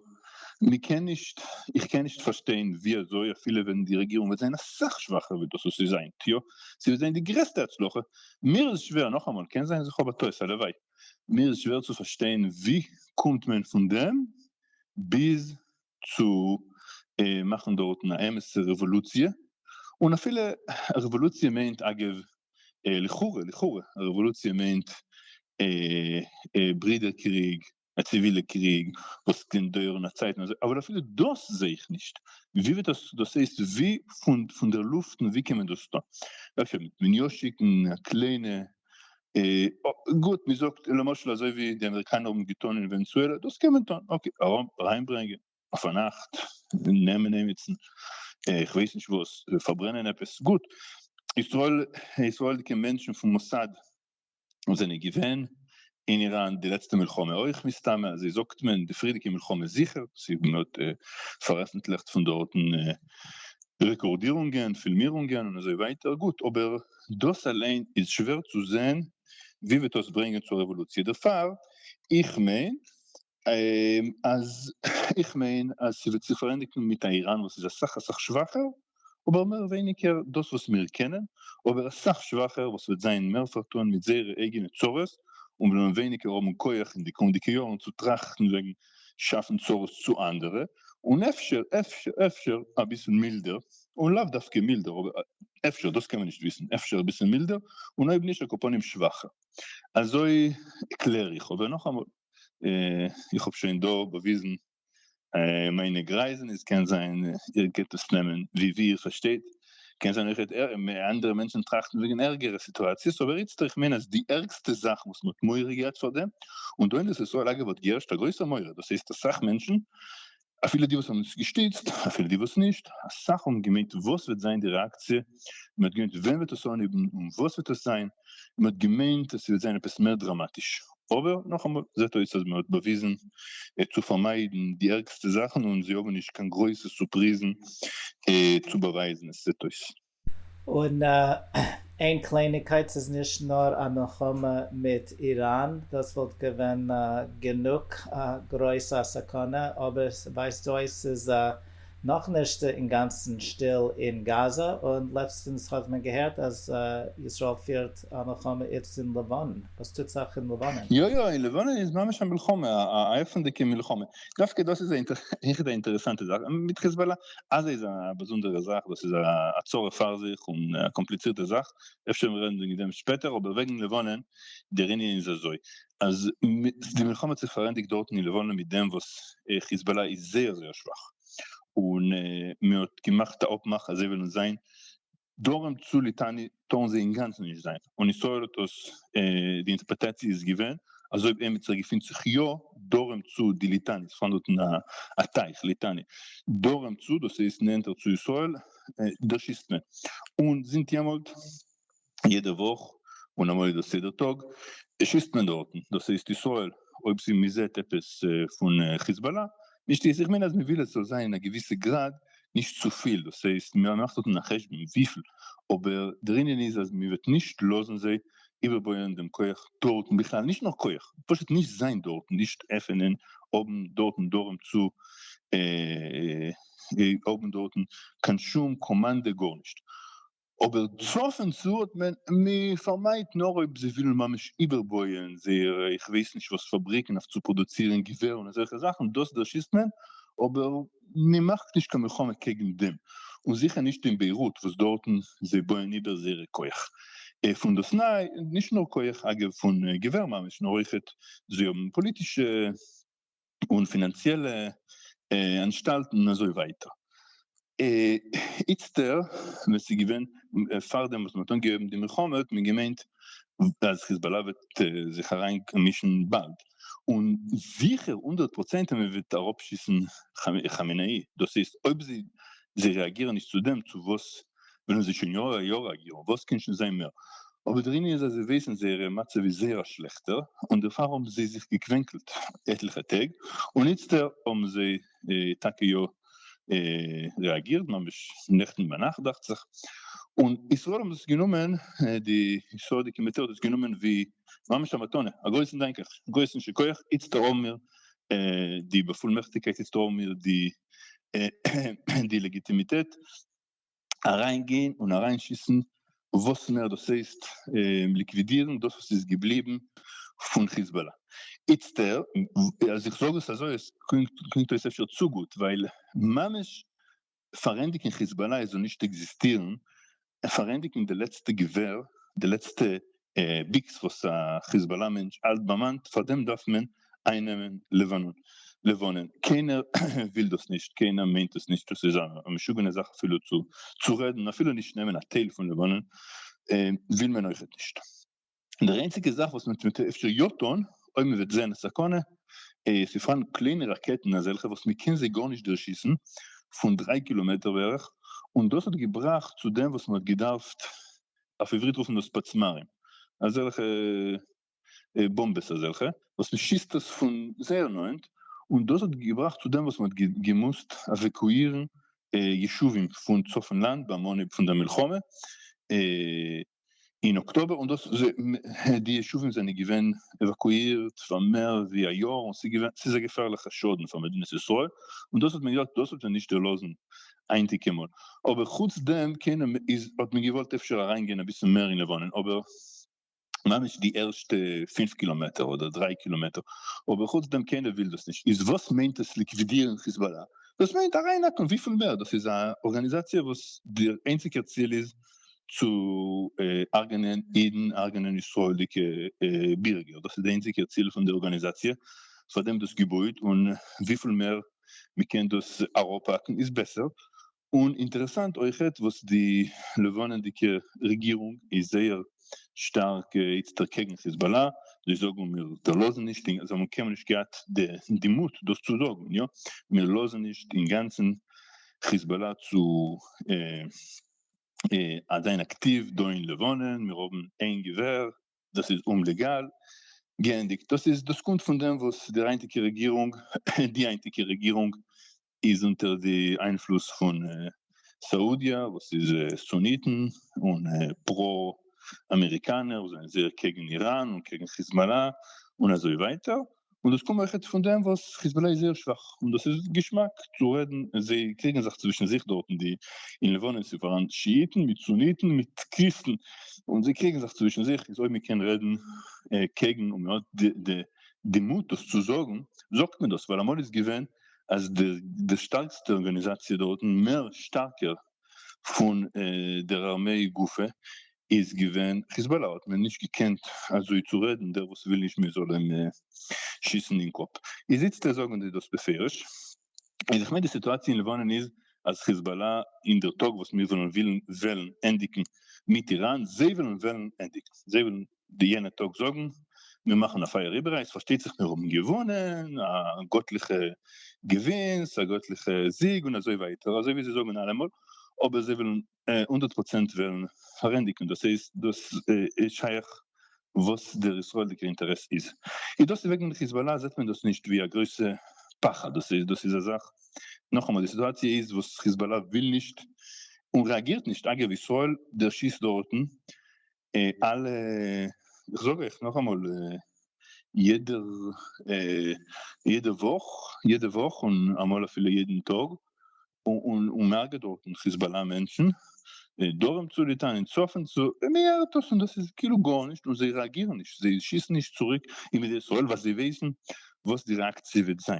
מען קען נישט, איך קען נישט פארשטיין ווי אזוי, אפילו ווען די רעגירונג וועט זיין אסאך שוואכער ווי דאס וואס איז היינט, יא, זי וועט זיין די גרעסטע הצלחה, מיר איז שווער, נאכאמאל, קען זיין אז איך האב א טעות, הלוואי, מיר איז שווער צו פארשטיין ווי קומט מען פון דעם ביז צו מאכן דארטן א אמת'ע רעוואלוציע, און אפילו א רעוואלוציע מיינט אגב לכאורה לכאורה א רעוואלוציע מיינט ברידער קריג, א ציווילע קריג וואס קען דויערן א צייט און אזוי, אבער אפילו דאס זעה איך נישט, ווי וועט דאס דאס הייסט ווי פון דער לופט און ווי קען מען דאס טון? אפשר וועט מען יא שיקן א קליינע גוט, מען זאגט למשל אזוי ווי די אמעריקאנער האבן געטון אין ווענעזועלע, דאס קען מען טון, אקעי, אריינברענגען אויף א נאכט, נעמען עימיצן, איך ווייס נישט וואס, פארברענען עפעס, גוט, ישראל, ישראל'דיגע מענטשן פון מוסד זענען געווען אין איראן די לעצטע מלחמה אויך, מסתמא, אזוי זאגט מען, די פריערדיגע מלחמה זיכער, מען האט פארעפנטליכט פון דארטן רעקארדירונגען, פילמירונגען און אזוי ווייטער, גוט, אבער דאס אליין איז שווער צו זעהן ווי וועט דאס ברענגען צו רעוואלוציע דערפאר איך מיין אז איך מיין אז ס'וועט זיך פארענדיגן מיט א איראן וואס איז אסאך אסאך שוואכער אבער מער ווייניגער דאס וואס מיר קענען אבער אסאך שוואכער וואס וועט זיין מער פארטון מיט זייערע אייגענע צרות און וועלן ווייניגער האבן כח אין די קומענדיגע יארן צו טראכטן וועגן שאפן צרות צו אנדערע, און אפשר אפשר אפשר אביסל מילדער, און לאו דווקא מילדער אבער אפשר, דאס קען מען נישט וויסן, אפשר אביסל מילדער, און אויב נישט על כל פנים שוואכער. אזוי קלער איך, אבער נאכאמאל, איך האב שוין דא באוויזן מיינע גרייזן, עס קען זיין איר גייט עס נעמען ווי איר פארשטייט, קען זיין אויכעט אנדערע מענטשן טראכטן וועגן ערגערע סיטואציעס אבער איצטער איך מיין אז די ערגסטע זאך וואס מ'האט מורא געהאט פאר דעם און דא אין ארץ ישראל אגב האט געהערשט א גרויסער מורא דאס הייסט אסאך מענטשן אפילו די וואס האבן עס געשטיצט אפילו די וואס נישט אסאך האבן געמיינט וואס וועט זיין די רעאקציע און מ'האט געמיינט ווען וועט עס אנהויבן און וואס וועט עס זיין און מ'האט געמיינט אז ס'וועט זיין עפעס מער דראמאטיש אבער נאכאמאל זעט אויס אז מען האט באוויזן צו פארמיידן די ערגסטע זאכן און זיי האבן נישט קיין גרויסע סורפריזן צו באווייזן עס זעט אויס. און איין קלייניגקייט ס'איז נישט נאר א מלחמה מיט איראן דאס וואלט געווען גענוג גרויס א סכנה אבער ס'ווייזט אויס ס'איז א נאך נישט אינגאנצן שטיל אין גאזא, און לעצטענס האט מען געהערט אז ישראל פירט א מלחמה איצט אין לבנון, וואס טוט זיך אין לבנון? יא יא אין לבנון איז ממש א מלחמה, א עפענדיגע מלחמה, דווקא דאס איז העכער די אינטערעסאנטע זאך מיט חיזבאלא, עזה איז א באזונדערע זאך, דאס איז א צרה פאר זיך און א קאמפליצירטע זאך, אפשר מיר רעדן וועגן דעם שפעטער, אבער וועגן לבנון, דער ענין איז אזוי, אז די מלחמה האט זיך פארענדיגט דארטן אין לבנון מיט דעם וואס חיזבאלא איז זייער זייער שוואך, און מען האט געמאכט א אפמאך אז זיי וועלן זיין דרום צו ליטאני טארן זיי אינגאנצן נישט זיין, און ישראל האט דאס די אינטערפרעטאציע איז געווען אז אויב עמיצער געפינט זיך יא דרום צו די ליטאני, עס איז פאראן דארטן א טייך ליטאני דרום צו, דאס הייסט נענטער צו ישראל, דערשיסט מען, און זינט יעמאלט יעדע וואך און א מוסדות סדר טאג שיסט מען דארטן דאס הייסט ישראל אויב סי מזעט עפעס פון חיזבאלא נישט איז איך מיין אז מוויל עס זאל זיין אין א געוויסע גראד נישט צופיל דאס הייסט ממאכט דארטן א חשבון וויפיל אבער דער ענין איז אז מוועט נישט לאזן זיי איבערבויען דעם כח דארטן בכלל נישט נאר כח פשוט נישט זיין דארטן נישט עפענען האבן דארטן דרום צו האבן דארטן קיין שום קאמאנדע גארנישט אבער צפון צו האט מען פארמיידט נאר אויב זיי ווילן ממש איבערבויען זייערע איך ווייס נישט וואס פאבריקן אויף צו פראדוצירן געווער און אזעלכע זאכן דאס דערשיסט מען אבער מען מאכט נישט קיין מלחמה קעגן דעם און זיכער נישט אין ביירוט וואס דארטן זיי בויען איבער זייערע כח פון דאס ניי נישט נאר כח אגב פון געווער ממש נאר אויכעט זיי האבן פאליטישע און פינאנציעלע אנשטאלטן און אזוי ווייטער. איצטער ווען ס'איז געווען פארדעם וואס מ'האט אנגעהויבן די מלחמה האט מען געמיינט אז חיזבאלא וועט זיך אריין מישן באלד, און זיכער הונדערט פראצענט אז מ'וועט אראפשיסן כאמינאי, דאס הייסט אויב זיי רעאגירן נישט צו דעם צו וואס ווען עס איז שוין יאר א יאר א יאר וואס קען שוין זיין מער, אבער דער ענין איז אז זיי ווייסן זייערע מצב איז זייער א שכלעכטער און דערפאר האבן זיי זיך געקווענקלט עטליכע טעג און איצטער האבן זיי טאקע יא רעאגירט ממש נעכטן ביינאכט דאכט זיך און ישראל האבן דאס גענומען די סאודיגע מיליטער האט דאס גענומען ווי ממש א מתנה א גרויסן דאנק אייך א גרויסן שכוח איצטער האבן מיר די באפולמעכטיגקייט איצטער האבן מיר די לעגיטימיטעט אריין גיין און אריין שיסן וואס מער דאס הייסט ליקווידירן דאס וואס איז געבליבן פון חיזבאלא איצטער אז איך זאג עס אזוי עס קלינגט אויס אפשר צו גוט ווייל ממש פארענדיגן חיזבאלא איז און נישט עקזיסטירן פארענדיגן די לעצטע געווער די לעצטע ביקס וואס א חיזבאלא מענטש האלט ביים האנט פארדעם דארף מען איינעמען לבנון, קיינער וויל דאס נישט קיינער מיינט עס נישט דאס איז א משוגענע זאך אפילו צו רעדן אפילו נישט נעמען א טייל פון לבנון וויל מען אויכעט נישט דער איינציגע זאך וואס מען טוט אפשר יא טון אויב מען וועט זען א סכנה איז ס'איז פארהאן קליינע ראקעטן אזעלכע וואס מען קען זיי גארנישט דערשיסן פון דריי קילאמעטער בערך און דאס האט געבראכט צו דעם וואס מען האט געדארפט אויף עברית רופן דאס פצמרים, אזעלכע באמבעס אזעלכע וואס מען שיסט עס פון זייער נאענט, און דאס האט געבראכט צו דעם וואס מען האט געמוזט עוועקואירן ישובים פון צפון לאנד ביים אנהייב פון דער מלחמה אין אקטאבער, און דאס די ישובים זענען געווען עוואקואירט פאר מער ווי א יאר, און ס'איז א געפערליכע שאדן פאר מדינת ישראל, און דאס האט מען געזאגט דאס וועט מען נישט דערלאזן היינטיגע מאל, אבער חוץ דעם קען מען איז האט מען געוואלט אפשר אריין גיין אביסל מער אין לבנון אבער ממש די ערשטע פֿינף קילאמעטער אדער דריי קילאמעטער אבער חוץ דעם קיינער וויל דאס נישט איז וואס מיינט עס ליקווידירן חיזבאללה דאס מיינט אריין האקן וויפיל מער דאס איז א ארגאניזאציע וואס די איינציגע ציל איז צו הרגנען אידן הרגנען ישראלדיגע בירגער דאס איז די איינציגע ציל פון די ארגאניזאציע פאר דעם דאס געבויט און וויפיל מער מ'קען דאס אראפהאקן איז בעסער, און אינטערעסאנט אויכעט וואס די לבנה'דיגע רעגירונג איז זייער שטארק איצט דערקעגן חיזבאללה, זיי זאגן מיר דערלאזן נישט און זיי האבן קיינמאל נישט געהאט די מוט דאס צו זאגן, יא מיר לאזן נישט אינגאנצן חיזבאללה צו זיין אקטיוו דא אין לבנון, מיר האבן איין געווער דאס איז אומלעגאל, געענדיגט. דאס איז דאס קומט פון דעם וואס דער היינטיגע רעגירונג די היינטיגע רעגירונג איז אונטער די איינפלוס פון סאודיע וואס איז סוניטן און פרא אמעריקאנער זענען זייער קעגן איראן און קעגן חיזבאלא און אזוי ווייטער און דאס קומט אויכעט פון דעם וואס חיזבאללה איז זייער שוואך און דאס איז געשמאק צו רעדן און זיי קריגן זיך צווישן זיך דארט אין די אין לבנון איז פאראן שיאיטן מיט סוניטן מיט קריסטן און זיי קריגן זיך צווישן זיך איז אויב מען קען רעדן קעגן און מען האט די די מוט דאס צו זאגן זאגט מען דאס ווייל אמאל איז געווען אז די די שטארקסטע ארגאניזאציע דארטן מער שטארקער פון דער ארמיי גופא איז געווען חיזבאלא האט מען נישט געקענט אזוי צו רעדן דער וואס וויל נישט מען זאל אים שיסן אין קאפ איז איצטער זאגן זיי דאס בפירוש איז איך מיין די סיטואציע אין לבנון איז אז חיזבאלא אין דער טאג וואס מיר וועלן ווילן וועלן ענדיגן מיט איראן זיי וועלן וועלן ענדיגן זיי וועלן די יענע טאג זאגן מיר מאכן א פייער איבעראיי עס פארשטייט זיך מיר האבן געוואנען א גאטליכע געווינס א גאטליכע זיג און אזוי ווייטער אזוי ווי זיי זאגן אלעמאל אבער זיי וועלן הונדערט פראצענט וועלן פארענדיגן דאס איז דאס איז שייך וואס דער ישראלדיגער אינטערעס איז איז דאס וועגן די חיזבאלא זעט מען דאס נישט ווי א גרויסע פחד דאס איז דאס איז א זאך נאכאמאל די סיטואציע איז וואס חיזבאלא וויל נישט און רעאגירט נישט אגב ישראל דערשיסט דארטן אלע, איך זאג אייך נאכאמאל, יעדע וואך, יעדע וואך און אמאל אפילו יעדן טאג, און מהרג'ט דארטן חיזבאלא מענטשן, דרום צו ליטאן און צפון צו, און מהרג'ט דאס און דאס איז כאילו גארנישט און זיי רעאגירן נישט, זיי שיסן נישט צוריק אין מדינת ישראל ווייל זיי ווייסן וואס די רעאקציע וועט זיין.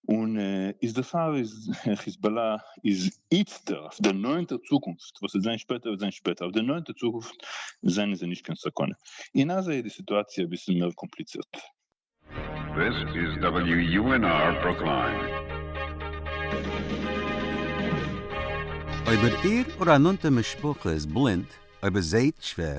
און איז דערפאר איז חיזבאללא איז איצטער אויף דער נאענטער צוקונפט, וואס וועט זיין שפעטער וועט זיין שפעטער, אויף דער נאענטער צוקונפט זענען זיי נישט קיין סכנה, אין עזה איז די סיטואציע אביסל מער קאמפליצירט. This is WUNR Brookline. אויב איר איר אור א נאנטע משפחה איז בלינד, אויב ער זעהט שווער,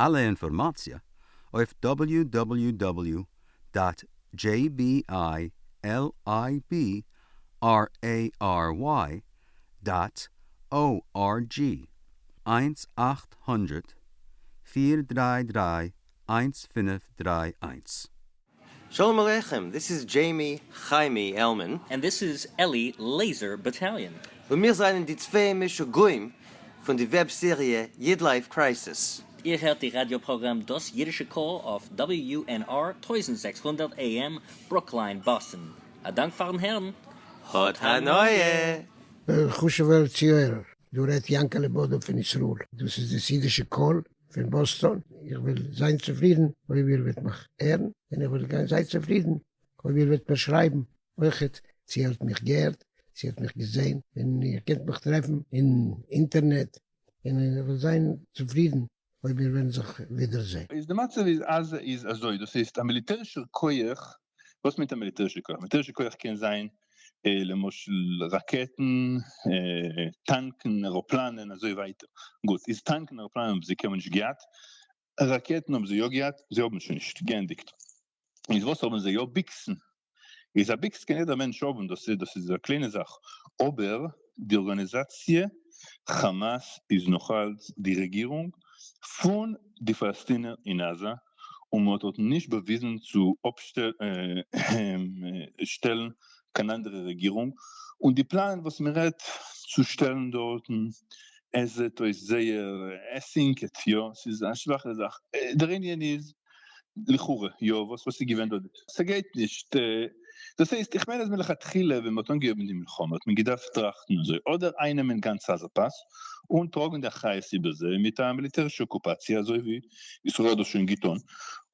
אלע אינפארמאציע אויף דאבעליו דאבעליו דאבעליו דאט דזשעי בי איי על איי בי אר עי אר וויי דאט או אר דזשי, איינס אַכט הונדערט פֿיר דרײַ דרײַ איינס פֿינף דרײַ איינס. שלום עליכם, דיס איז דזשעימי חיימי עלמען. און דיס איז אלי לעיזער באטאליאן. און מיר זענען די צוויי משוגעים פון די וועב סעריע איד לייף קרייסיס. איר הערט די ראדיא פראגראם דאס אידישע קול אויף WUNR טויזנט זעקס הונדערט AM ברוקליין באסטן. א דאנק פארן הערן. האט הנאה! חשובער צוהערער, דא רעדט יענקעלע בודא פון ישראל, דאס איז דאס אידישע קול. פון באסטאן, איך וועל זיין צופרידן אויב איר וועט מיך הערן, און איך וועל זיין צופרידן אויב איר וועט מיר שרייבן אויכעט צו איר האט מיך געהערט, צו איר האט מיך געזען, און איר קענט מיך טרעפן אין אינטערנעט, און איך וועל זיין צופרידן אויב מיר וועלן זיך ווידערזען. איז די מצב איז עזה איז אזוי, דאס הייסט א מיליטערישער כח וואס מיינט א מיליטערישע כח? מיליטערישע כח קען זיין למשל ראקעטן, טאנקן, עראפלאנען, אזוי ווייטער. גוט, איז טאנקן און עראפלאנען האבן זיי קיינמאל נישט געהאט, ראקעטן האבן זיי יא געהאט, זיי האבן שוין נישט, געענדיגט. איז וואס האבן זיי יא? ביקסן. איז א ביקס קען יעדער מענטש האבן, דאס דאס איז א קליינע זאך, אבער די ארגאניזאציע חאמאס איז נאכאלץ די רעגירונג פון די פאלעסטינער אין עזה, און מען האט דארטן נישט באוויזן צו אפשטעלן קיין אנדערע רעגירונג, און די פלאן וואס מען רעדט צו שטעלן דארטן, עס זעט אויס זייער, עס הינקעט, יא, ס'איז א שוואכע זאך, דער ענין איז לכאורה, יא, וואס איז געווען דארט, ס'גייט נישט. דאס הייסט, איך מיין אז מלכתחילה ווען מ'האט אנגעהויבן די מלחמה האט מען געדארפט טראכטן אזוי, אדער איינעמען גאנץ עזה פאס און טראגן די אחריות איבער זיי מיט א מיליטערישע אקופאציע אזוי ווי ישראל האט דאס שוין געטון,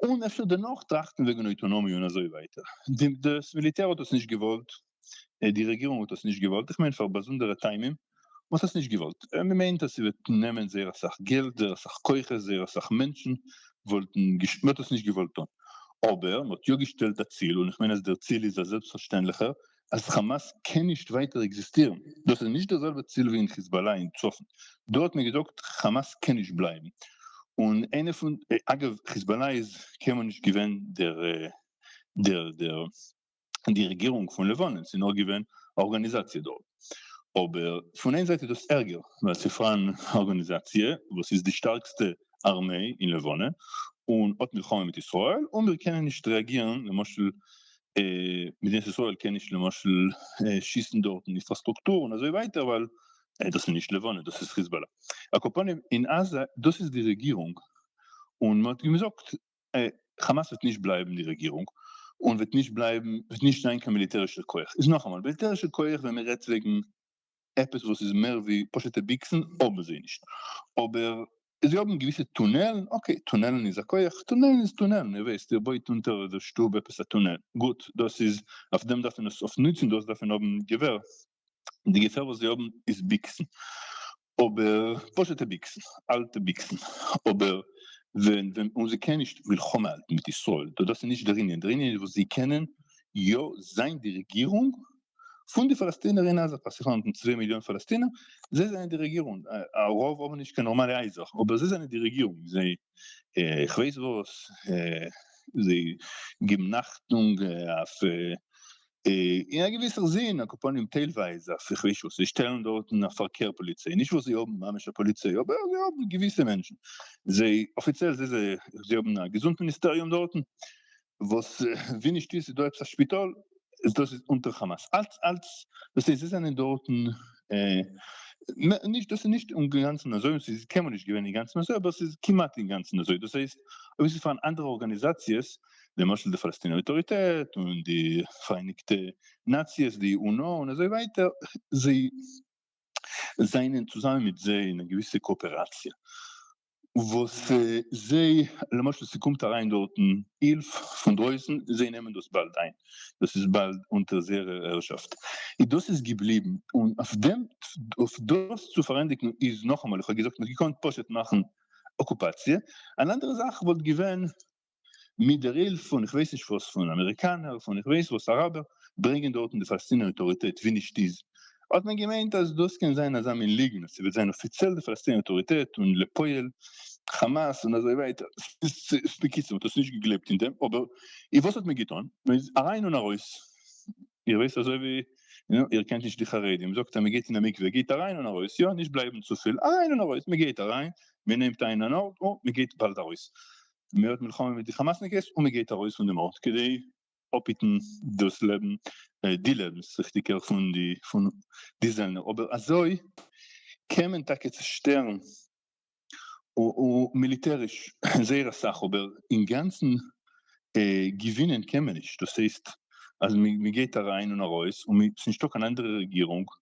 און אפשר דערנאך טראכטן וועגן אויטאנאמיע און אזוי ווייטער. דאס מיליטער האט דאס נישט געוואלט, די רעגירונג האט דאס נישט געוואלט, איך מיין פאר באזונדערע טעמים, מען האט עס נישט געוואלט, מען מיינט אז ס'וועט נעמען זייער אסאך געלט, זייער אסאך כוחות, זייער אסאך מענטשן וואלטן, מען האט עס נישט געוואלט טון, אבער מען האט יא געשטעלט א ציל, און איך מיין אז דער ציל איז א זעלבסטפארשטענדליכער, אז חאמאס קען נישט ווייטער עקזיסטירן, דאס איז נישט דער זעלבער ציל ווי אין חיזבאלא אין צפון, דא האט מען געזאגט חאמאס קען נישט בלייבן, און איינע פון, אגב חיזבאלא איז קיינמאל נישט געווען דער דער דער. די רעגירונג פון לבנון, ס'איז נאר געווען א ארגאניזאציע דארט. אבער פון איין זייט איז דאס ערגער, ווייל ס'איז פאראן א ארגאניזאציע וואס איז די שטארקסטע ארמיי אין לבנון, און האט מלחמה מיט ישראל, און מיר קענען נישט רעאגירן, למשל מדינת ישראל קען נישט למשל שיסן דארטן אינפראסטרוקטור און אזוי ווייטער, ווייל דאס איז נישט לבנון, דאס איז חיזבאלא. על כל פנים, אין עזה, דאס איז די רעגירונג, און מ'האט אים געזאגט, חאמאס וועט נישט בלייבן די רעגירונג, און וועט נישט בלייבן, וועט נישט זיין קיין מיליטערישער כח, איז נאכאמאל, מיליטערישע כח ווען מען רעדט וועגן עפעס וואס איז מער ווי פשוט'ע ביקסן, האבן זיי נישט, אבער זיי האבן געוויסע טונעלן, אקעי, טונעלן איז א כח, טונעלן איז טונעלן, איר ווייסט, איר בויט אונטער די שטוב עפעס א טונעל, גוט, דאס איז, אויף דעם דארף מען עס אויף נוצן, דאס דארף מען האבן געווער, און די געווער וואס זיי האבן איז ביקסן, אבער פשוט'ע ביקסן, אלטע ביקסן, אבער ווען ווען און זיי קענען נישט מלחמה האלטן מיט ישראל, דאס איז נישט דער ענין, דער ענין איז וואס זיי קענען יא זיין די רעגירונג פון די פאלעסטינער אין עזה, פאר זיך האבן צוויי מיליאן פאלעסטינער, זיי זענען די רעגירונג, א רוב האבן נישט קיין נארמאלע הייזער, אבער זיי זענען די רעגירונג, זיי איך ווייס וואס, זיי גיבן אכטונג אויף אין א געוויסער זין, א קאפאנים טיילווייז א פרישו, זיי שטעלן דארטן א פארקער פאליציי, נישט וואס זיי האבן ממש א פאליציי, אבער זיי האבן געוויסע מענטשן, זיי אפיציעל זיי זיי האבן א געזונט מיניסטעריום דארטן, וואס ווי נישט איז איז דא עפעס א שפיטאל, איז דאס איז אונטער כאמאס, אלץ אלץ, דאס הייסט זיי זענען דארטן, נישט דאס איז נישט אינגאנצן אזוי, און ס'איז קיינמאל נישט געווען אינגאנצן אזוי, אבער ס'איז כמעט אינגאנצן אזוי, דאס הייסט אויב ס'איז פארהאן אנדערע ארגאניזאציעס, למשל די פאלעסטינער אויטאריטעט און די פאראייניגטע נאציעס די אונ א און אזוי ווייטער זיי זענען צוזאמען מיט זיי אין א געוויסע קאאפעראציע וואס זיי למשל ס'קומט אריין דארטן הילף פון דרויסן זיי נעמען דאס באלד איין דאס איז באלד אונטער זייערע הערשאפט און דאס איז געבליבן און אויף דעם אויף דאס צו פארענדיגן איז נאכאמאל איך האב געזאגט מ'האט געקאנט פשוט מאכן אקופאציע אן אנדערע זאך וואלט געווען מיט דער הילף פון איך ווייס נישט וואס פון אמעריקאנער פון איך ווייס וואס אראבער ברענגען דארטן די פאלעסטינער אויטאריטעט ווי נישט איז האט מען געמיינט אז דאס קען זיין אזא מין ליגנט אז ס'וועט זיין אפיציעל די פאלעסטינער אויטאריטעט און לפועל חאמאס און אזוי ווייטער בקיצור מ'האט עס נישט געגלייבט אין דעם אבער און וואס האט מען געטון מען איז אריין און ארויס איר ווייסט אזוי ווי איר קענט נישט די חרדים זאגט אז מען גייט אין א מקווה גייט אריין און ארויס יא נישט בלייבן צופיל אריין און ארויס מען גייט אריין מען נעמט איין אן ארט און מען גייט באלד ארויס מען האט מלחמה מיט די כאמאסניקעס און מען גייט ארויס פון דעם ארט כדי אפהיטן דאס לעבן, די לעבנס ריכטיגער, פון די פון די זעלנער, אבער אזוי קען מען טאקע צושטערן מיליטעריש זייער אסאך אבער אינגאנצן געווינען קען מען נישט, דאס הייסט אז מען גייט אריין און ארויס און ס'איז נישטא קיין אנדערע רעגירונג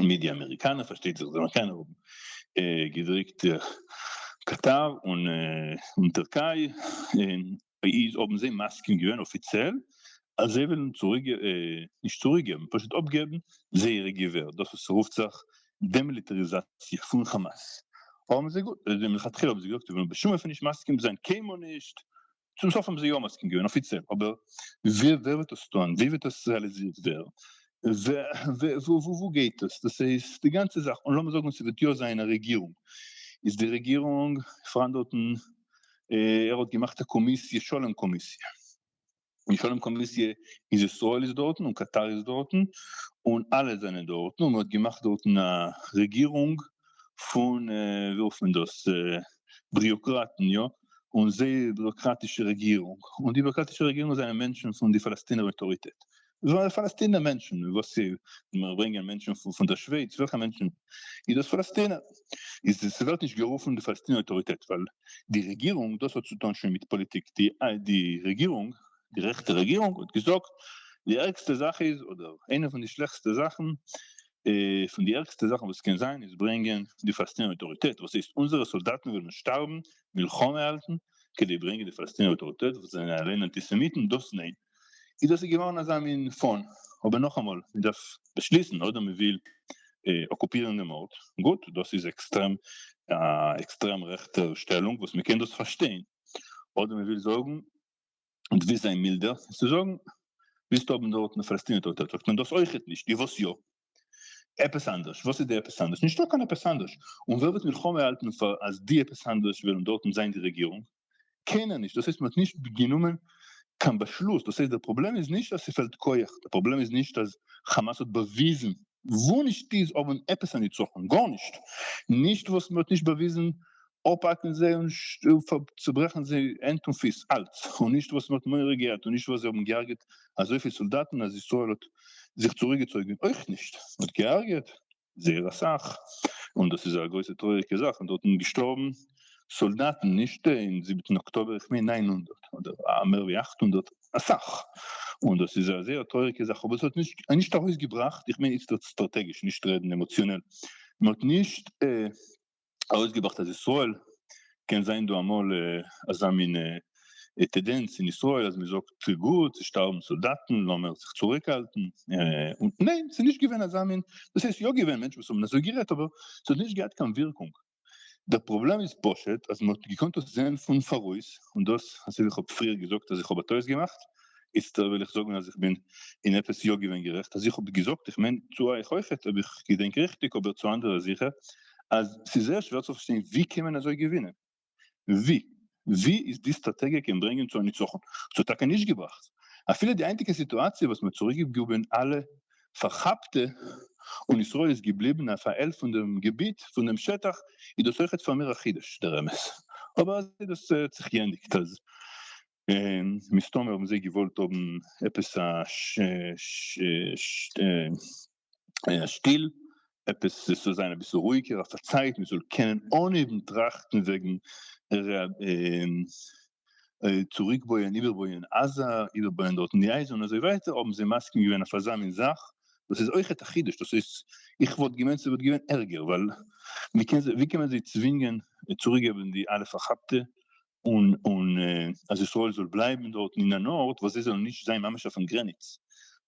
מיט די אמעריקאנער פארשטייט זיך זאל קיינער האבן געדריקט קאטאר און טערקיי איז האבן זיי מסכים געווען אפיציעל אז זיי ווילן צוריק נישט צוריק געבן פשוט אפגעבן זייערע געווער דאס וואס רופט זיך דעמיליטעריזאציע פון כאמאס האבן זיי געזאגט מלכתחילה האבן זיי געזאגט זיי ווילן בשום אופן נישט מסכים זיין קיינמאל נישט צום סוף האבן זיי יא מסכים געווען אפיציעל, אבער ווער וועט עס טון, ווי וועט עס רעאליזירט ווערן, וואו גייט עס, דאס הייסט די גאנצע זאך, און לאמיר זאגן ס'וועט יא זיין א רעגירונג, איז די רעגירונג פאראן דארטן, ער האט געמאכט א קאמיסיע, שלום קאמיסיע, די שלום קאמיסיע איז ישראל איז דארטן און קאטאר איז דארטן, און אלע זענען דארטן, און מען האט געמאכט דארטן א רעגירונג פון ווי רופט מען דאס, ביריאקראטן, יא, און זייער ביוראקראטישע רעגירונג, און די ביוראקראטישע רעגירונג זענען מענטשן פון די פאלעסטינער אויטאריטעט, זענען פאלעסטינער מענטשן, וואס איז, מיר ברענגען מענטשן פון דער שווייץ, וועלכע מענטשן איז דאס פאלעסטינער? איז עס ווערט נישט גערופן די פאלעסטינער אויטאריטעט ווייל די רעגירונג, דאס האט צו טון שוין מיט פאליטיק, די די רעגירונג, די רעכטע רעגירונג האט געזאגט, די ערגסטע זאך איז, אדער איינע פון די שלעכסטע זאכן, פון די ערגסטע זאכן וואס קען זיין איז ברענגען די פאלעסטינער אויטאריטעט וואס הייסט אונזערע סאלדאטן וועלן שטארבן מלחמה האלטן כדי ברענגען די פאלעסטינער אויטאריטעט וואס זענען אליין אנטיסעמיטן דאס ניין איז דאס איז געווארן אזא מין פאן אבער נאכאמאל מען דארף באשליסן אדער מען וויל אקופירן דעם ארט גוט דאס איז עקסטרעם א עקסטרעם רעכטע שטעלונג וואס מען קען דאס פארשטיין אדער מען וויל זאגן און דו ווילסט זיין מילדער קענסט דו זאגן, ווילסט האבן דארט א פאלעסטינער טויטער זאגט מען דאס אויכעט נישט, די וואס יא? עפעס אנדערש, וואס איז די עפעס אנדערש? נישטא קיין עפעס אנדערש, און ווער וועט מלחמה האלטן פאר אז די עפעס אנדערש וועלן דארטן זיין די רעגירונג? קיינער נישט, דאס הייסט מען האט נישט גענומען קיין באשלוס, דאס הייסט דער פראבלעם איז נישט אז ס'פעלט כח, דער פראבלעם איז נישט אז חאמאס האט באוויזן, וואו נישט איז האבן עפעס א ניצחון? גארנישט, נישט וואס מען האט נישט באוויזן אפהאקן זיי און צוברעכן זיי הענט און פיס, אלץ, און נישט וואס מ'האט מורא געהאט, און נישט וואס זיי האבן געהארגעט אזויפיל סאלדאטן אז ישראל האט זיך צוריקגעצויגן, אויך נישט, מ'האט געהארגעט זייער אסאך, און דאס איז א גרויסע טרויעריגע זאך, און דארט זענען געשטארבן סאלדאטן, נישט אין זיבעטן אקטאבער, איך מיין נײַן הונדערט, אדער מער ווי אַכט הונדערט, אסאך, און דאס איז א זייער טרויעריגע זאך, אבער עס האט נישט ארויסגעבראכט, איך מיין איצטערט סטראטעגיש, נישט רעדן עמאציאנעל, מ'האט נישט. ארויסגעבראכט אז ישראל קען זיין דא אמאל אזא מין טעדענץ אין ישראל אז מ'זאגט גוט ס'שטארבן סאלדאטן לאמער זיך צוריקהאלטן און ניין ס'איז נישט געווען אזא מין דאס הייסט יא געווען מענטשן וואס האבן אזוי גערעדט אבער ס'האט נישט געהאט קיין ווירקונג דער פראבלעם איז פשוט אז מ'האט געקאנט דאס זעהן פון פאראויס און דאס אזויווי כ'האב פריער געזאגט אז איך האב א טעות געמאכט איצטער וועל איך זאגן אז איך בין אין עפעס יא געווען גערעכט אז איך האב געזאגט איך מיין צו אייך אויכעט אויב איך געדענק ריכטיג אבער צו אנדערע זיכער אז ס'איז זייער שווער צו פארשטיין ווי קען מען אזוי געווינען ווי ווי איז די סטראטעגיע קען ברענגען צו א ניצחון ס'האט טאקע נישט געבראכט אפילו די היינטיגע סיטואציע וואס מ'האט צוריקגעבגעבן אלע פארכאפטע און ישראל איז געבליבן אויף א על פון דעם געביט פון דעם שטח איז דאס אויכעט פאר מיר א חידוש דער אמת אבער אזוי איז דאס האט זיך געענדיגט אז מסתמא האבן זיי געוואלט האבן עפעס א שטיל, עפעס עס זאל זיין אביסל רואיגער, אויף א צייט מען זאל קענען אנהייבן טראכטן וועגן צוריקבויען, איבערבויען עזה, איבערבויען דארטן די אייזל און אזוי ווייטער, האבן זיי מסכים געווען אויף אזא מין זאך, דאס איז אויכעט א חידוש, דאס איז, איך וואלט געמיינט ס'וואלט געווען ערגער, ווייל ווי קען זיי, ווי קען מען זיי צווינגען צוריקגעבן די אלע פארכאפטע, און און אז ישראל זאל בלייבן דארטן אין אן ארט וואס זיי זאלן נישט זיין ממש אויפן גרעניץ,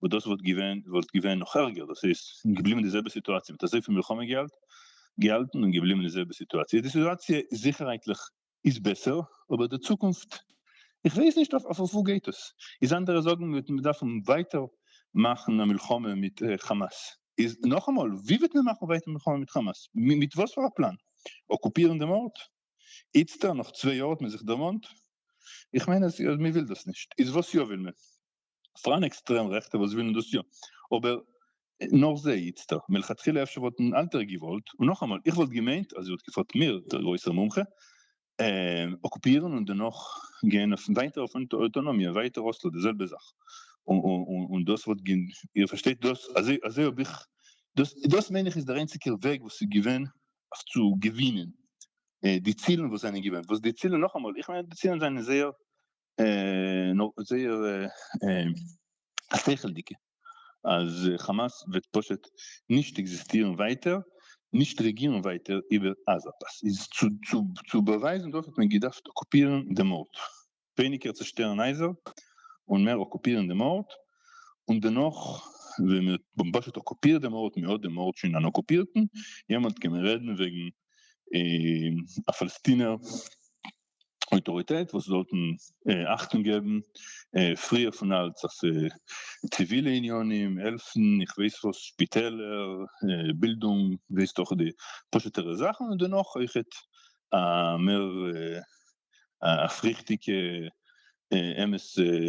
וואס דאס וואלט געווען וואלט געווען נאך ערגער, דאס איז געבליבן די זעלבע סיטואציע מיט אזויפיל מלחמה געלט געהאלטן און געבליבן די זעלבע סיטואציע, די סיטואציע זיכערהייטליך איז בעסער אבער די צוקונפט איך ווייס נישט אויף אויף וואו גייט עס, איז אנדערע זאגן מ'וועט מען דארפן ווייטער מאכן א מלחמה מיט כאמאס, איז נאכאמאל ווי וועט מען מאכן ווייטער מלחמה מיט כאמאס מיט וואס פאר א פלאן? אקופירן דעם ארט? איצטער נאך צוויי יאר האט מען זיך דערמאנט? איך מיין אז מען וויל דאס נישט, איז וואס יא וויל מען? פאראן עקסטרעם רעכטע וואס ווילן דאס יא, אבער נאר זיי איצטער, מלכתחילה אפשר וואלטן אלטער געוואלט, און נאכאמאל איך וואלט געמיינט אז ער האט געפארט מיר דער גרויסער מומחה, אקופירן און דערנאך גיין אויף ווייטער אויף אויטאנאמיע ווייטער אסלא די זעלבע זאך, און דאס וואלט געווען, איר פארשטייט דאס אזוי האב איך, דאס מיין איך איז דער איינציגער וועג וואס איז געווען אויף צו געווינען די צילן וואס זענען געווען, וואס די צילן נאכאמאל, איך מיין די צילן זענען זייער זייער שכל'דיגע, אז חאמאס וועט פשוט נישט עקזיסטירן ווייטער, נישט רעגירן ווייטער איבער עזה, צו באווייזן דאס האט מען געדארפט אקופירן דעם ארט. ווייניגער צושטערן הייזער און מער אקופירן דעם ארט, און דערנאך ווען מען האט פשוט אקופירט דעם ארט, מען האט דעם ארט שוין אן אקופירטן, יעמאלט קען מען רעדן וועגן א פאלעסטינער אויטאריטעט וואס זאלטן אכטונג געבן פריער פון אלץ אויף ציווילע עניינים, העלפן, איך ווייס וואס, שפיטעלער, בילדונג, ווייסט דאך די פשוטערע זאכן, און דערנאך אויכעט א מער א אויפריכטיגע אמת'ע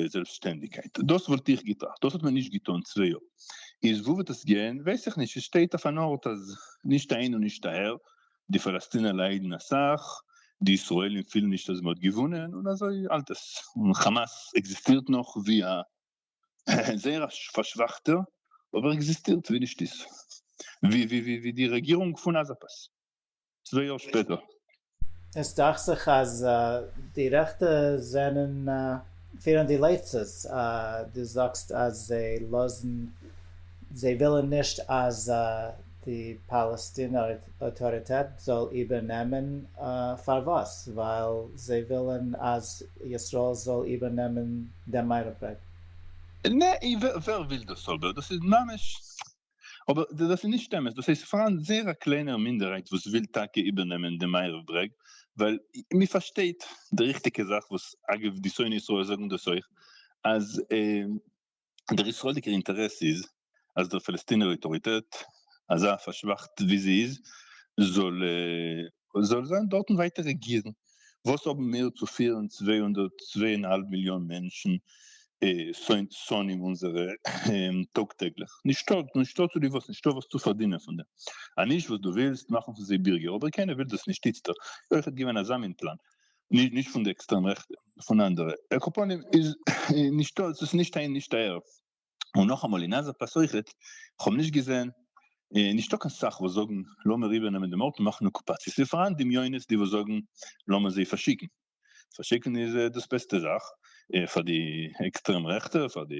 זעלבסטשטענדיגקייט. דאס וואלט איך געטראכט, דאס האט מען נישט געטון צוויי יאר. איז וואו וועט עס גיין? ווייס איך נישט, עס שטייט אויף אן ארט אז נישט אהין און נישט אהער, די פאלעסטינער ליידן אסאך, די ישראלים פילן נישט אז מען האט געוואונען, און אזוי האלט עס. און חאמאס עקזיסטירט נאך ווי א זייער א פארשוואכטער, אבער עקזיסטירט, ווי נישט איז ווי די רעגירונג פון עזה פאס. צוויי יאר שפעטער. עס דאכט זיך אז די רעכטע זענען פירן די לייצעס, דו זאגסט אז זיי לאזן זיי ווילן נישט אז די פאלעסטינער אויטאריטעט זאל איבערנעמען, פארוואס? ווייל זיי ווילן אז ישראל זאל איבערנעמען דעם מיירפרג? נע, ווער וויל דאס אבער? דאס איז ממש אבער דאס איז נישט אמת, דאס איז פארהאן זייער א קליינער מינדערהייט וואס וויל טאקע איבערנעמען די מערב ברעג, ווייל מען פארשטייט די ריכטיגע זאך, וואס אגב די שונאי ישראל זאגן דאס אויך, אז דער ישראלדיגער אינטערעס איז אז דער פאלעסטינער אויטאריטעט, אזא פארשוואכט ווי זי איז, זאל זאל זיין דארטן ווייטער רעגירן, וואס האבן מיר צו פירן צוויי הונדערט צוויי און האלב מיליאן מענטשן שונאים אונזערע טאג טעגליך, נישטא נישטא צו די וואס נישטא וואס צו פארדינען פון דעם, אז נישט וואס דו ווילסט מאכן פון זיי בירגער, אבער קיינער וויל דאס נישט איצטער, איז אויכעט געווען אזא מין פלאן, נישט פון די עקסטרעם רעכטע, פון אנדערע, על כל פנים איז נישטא, עס איז נישט איין נישט אהער, און נאכאמאל אין אזא פלאץ אויכעט, כ'האב נישט געזען, און נישטא קיין סאך וואס זאגן לאמיר איבערנעמען דעם ארט און מאכן אקופאציע, ס'איז פארהאן דמיונות די וואס זאגן לאמיר זיי פארשיקן, פארשיקן איז דאס בעסטע זאך פאר די עקסטרעם רעכטע, פאר די,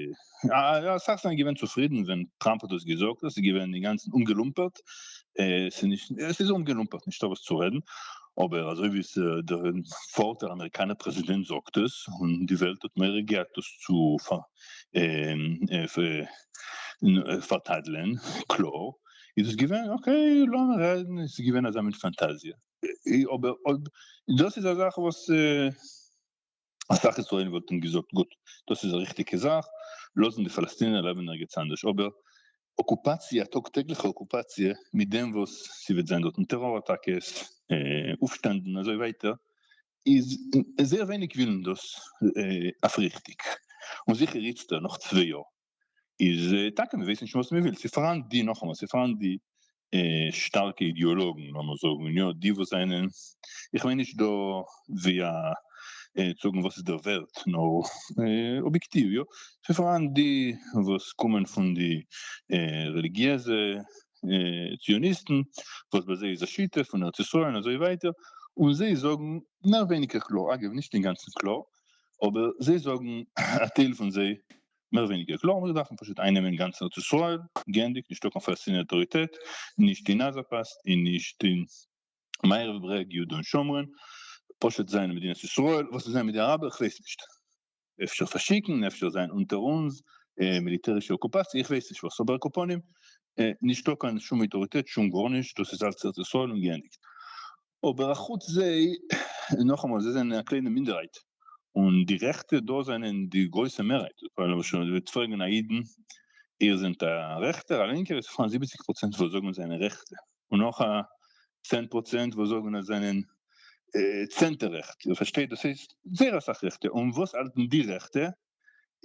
אסאך זענען געווען צופרידן ווען טראמפ האט דאס געזאגט, דאס איז געווען אינגאנצן אומגעלומפערט, עס איז אומגעלומפערט נישטא וואס צו רעדן, אבער אזוי ווי עס דער פארט דער אמעריקאנער פרעזידענט זאגט עס, און די וועלט האט מעריך געהאט דאס צו פארטאדלען קלאר איז עס געווען אקעי לאמיר רעדן עס איז געווען אזא מין פאנטאזיע אבער אויב דאס איז א זאך וואס אסאך ישראלים וואלטן געזאגט גוט דאס איז א ריכטיגע זאך לאזן די פאלעסטינער לעבן ערגעץ אנדערש אבער אקופאציע א טאג טעגליכע אקופאציע מיט דעם וואס ס'וועט זיין דארטן טעראר אטאקעס אויפשטענדן און אזוי ווייטער איז זייער ווייניג ווילן דאס אויפריכטיג, און זיכער איצטער נאך צוויי יאר איז טאקע מען ווייסט נישט וואס מען וויל, ס'איז פאראן די, נאכאמאל, ס'איז פאראן די שטארקע אידיאלאגן לאמיר זאגן, און יא די וואס זענען, איך מיין נישט דא ווי א צו זאגן וואס איז דער ווערט, נאר אביעקטיוו, יא, ס'איז פאראן די וואס קומען פון די רעליגיעזע ציוניסטן וואס ביי זיי איז א שיטה פון ארץ ישראל און אזוי ווייטער און זיי זאגן מער ווייניגער קלאר אגב נישט אינגאנצן קלאר אבער זיי זאגן א טייל פון זיי מער ווייניגער קלאר מיר דארפן פשוט איינעמען גאנץ ארץ ישראל גענדיגט נישטא קיין פאלעסטינער אויטאריטעט נישט אין עזה פאסט און נישט אין מערב ברעג יהודה און שומרון פשוט זיין מדינת ישראל וואס איז זיין מיט די אראבער כ'ווייס נישט. אפשר פארשיקן, אפשר זיין אונטער אונז, מיליטערישע אקופאציע, איך ווייס נישט וואס, אבער על כל פנים, נישטא קיין שום אויטאריטעט, שום גארנישט, דאס איז אלץ ארץ ישראל און געענדיגט. אבער אחוץ זיי, נאכאמאל, זיי זענען א קליינע מינדערהייט, און די רעכטע דא זענען די גרויסע מערהייט, ווייל למשל ווען מ'וועט פרעגן א אידן, איר זענט א רעכטער, א לינקער, איז פאראן זיבעציג פראצענט וואס זאגן זיי זענען רעכטע, און נאך א צען פראצענט וואס זאגן אז זענען צענטער רעכט, איר פארשטייט? דאס הייסט זייער אסאך רעכטע, און וואס האלטן די רעכטע?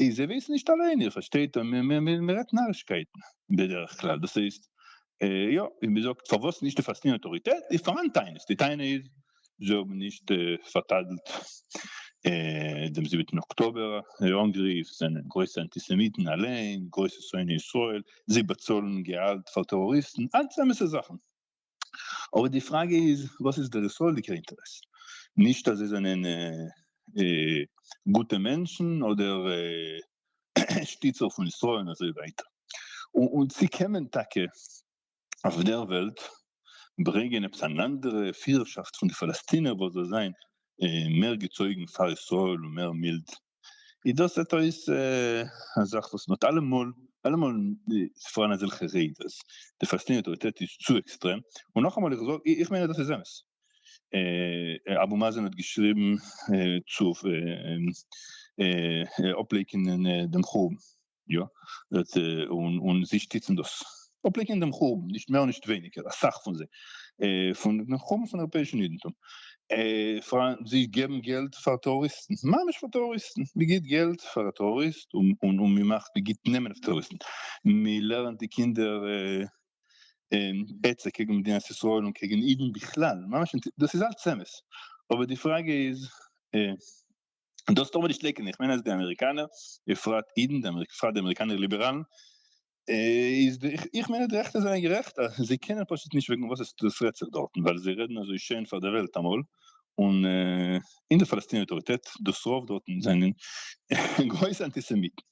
איי זיי ווייסן נישט אליין, איר פארשטייט? מען רעדט נארישקייטן בדרך כלל, דאס הייסט יא, ווי מען זאגט פארוואס נישט די פאלסטינער אויטאריטעט איז פארהאן טענות, די טענה איז זיי האבן נישט פארטאדעלט דעם זיבעטן אקטאבער אנגריף, זיי זענען גרויסע אנטיסעמיטן אליין, גרויסע שונאי ישראל, זיי באצאלן געהאלט פאר טעראריסטן, אלץ אמת'ע זאכן. אבער די פראגע איז וואס איז דער ישראל'דיגער אינטערעס? נישט אז זיי זענען גוטע מענטשן אדער שטיצער פון ישראל און אזוי ווייטער. און צי קען מען טאקע אויף דער וועלט ברענגען עפעס אן אנדערע פירערשאפט פון די פאלעסטינער וואס זאל זיין מער געצויגן פאר ישראל און מער מילד איז דאס זעט אויס א זאך וואס מ'האט אלעמאל אלעמאל ס'איז פאראן אזעלכע רעדעס די פאלעסטינער אויטאריטעט איז צו עקסטרעם און נאכאמאל איך זאג איך מיין אז דאס איז אמת אבו מאזען האט געשריבן צו אפלייקענען דעם חורבן. יא, און זיי שטיצן דאס. אפלעקען דעם חורבן, נישט מער נישט ווייניגער, אסאך פון זיי, פון דעם חורבן פון אייראפעאישן אידנטום. זיי געבן געלט פאר טעראריסטן, ממש פאר טעראריסטן, מען גיט געלט פאר א טעראריסט און מען מאכט, מען גיט נעמען אויף טעראריסטן, מען לערנט די קינדער עצה קעגן מדינת ישראל און קעגן אידן בכלל, ממש דאס איז אלץ אמת, אבער די פראגע איז. און דאָס טאָר מען נישט לעקן. איך מיין, אַז די אַמעריקאַנער, בפֿרט אידן, בפֿרט די אַמעריקאַנער ליבעראַלן, איז די, איך מיין, אַז די רעכטע זײַנען גערעכט, אַז זיי קענען פּשוט נישט וועגן וואָס עס דאָס רעדט זיך דאָרטן, ווײַל זיי רעדן אַזוי שיין פֿאַר דער וועלט אַמאָל, און, און די פּאַלעסטינער אויטאָריטעט, דאָס רוב דאָרטן, זײַנען גרויסע אַנטיסעמיטן.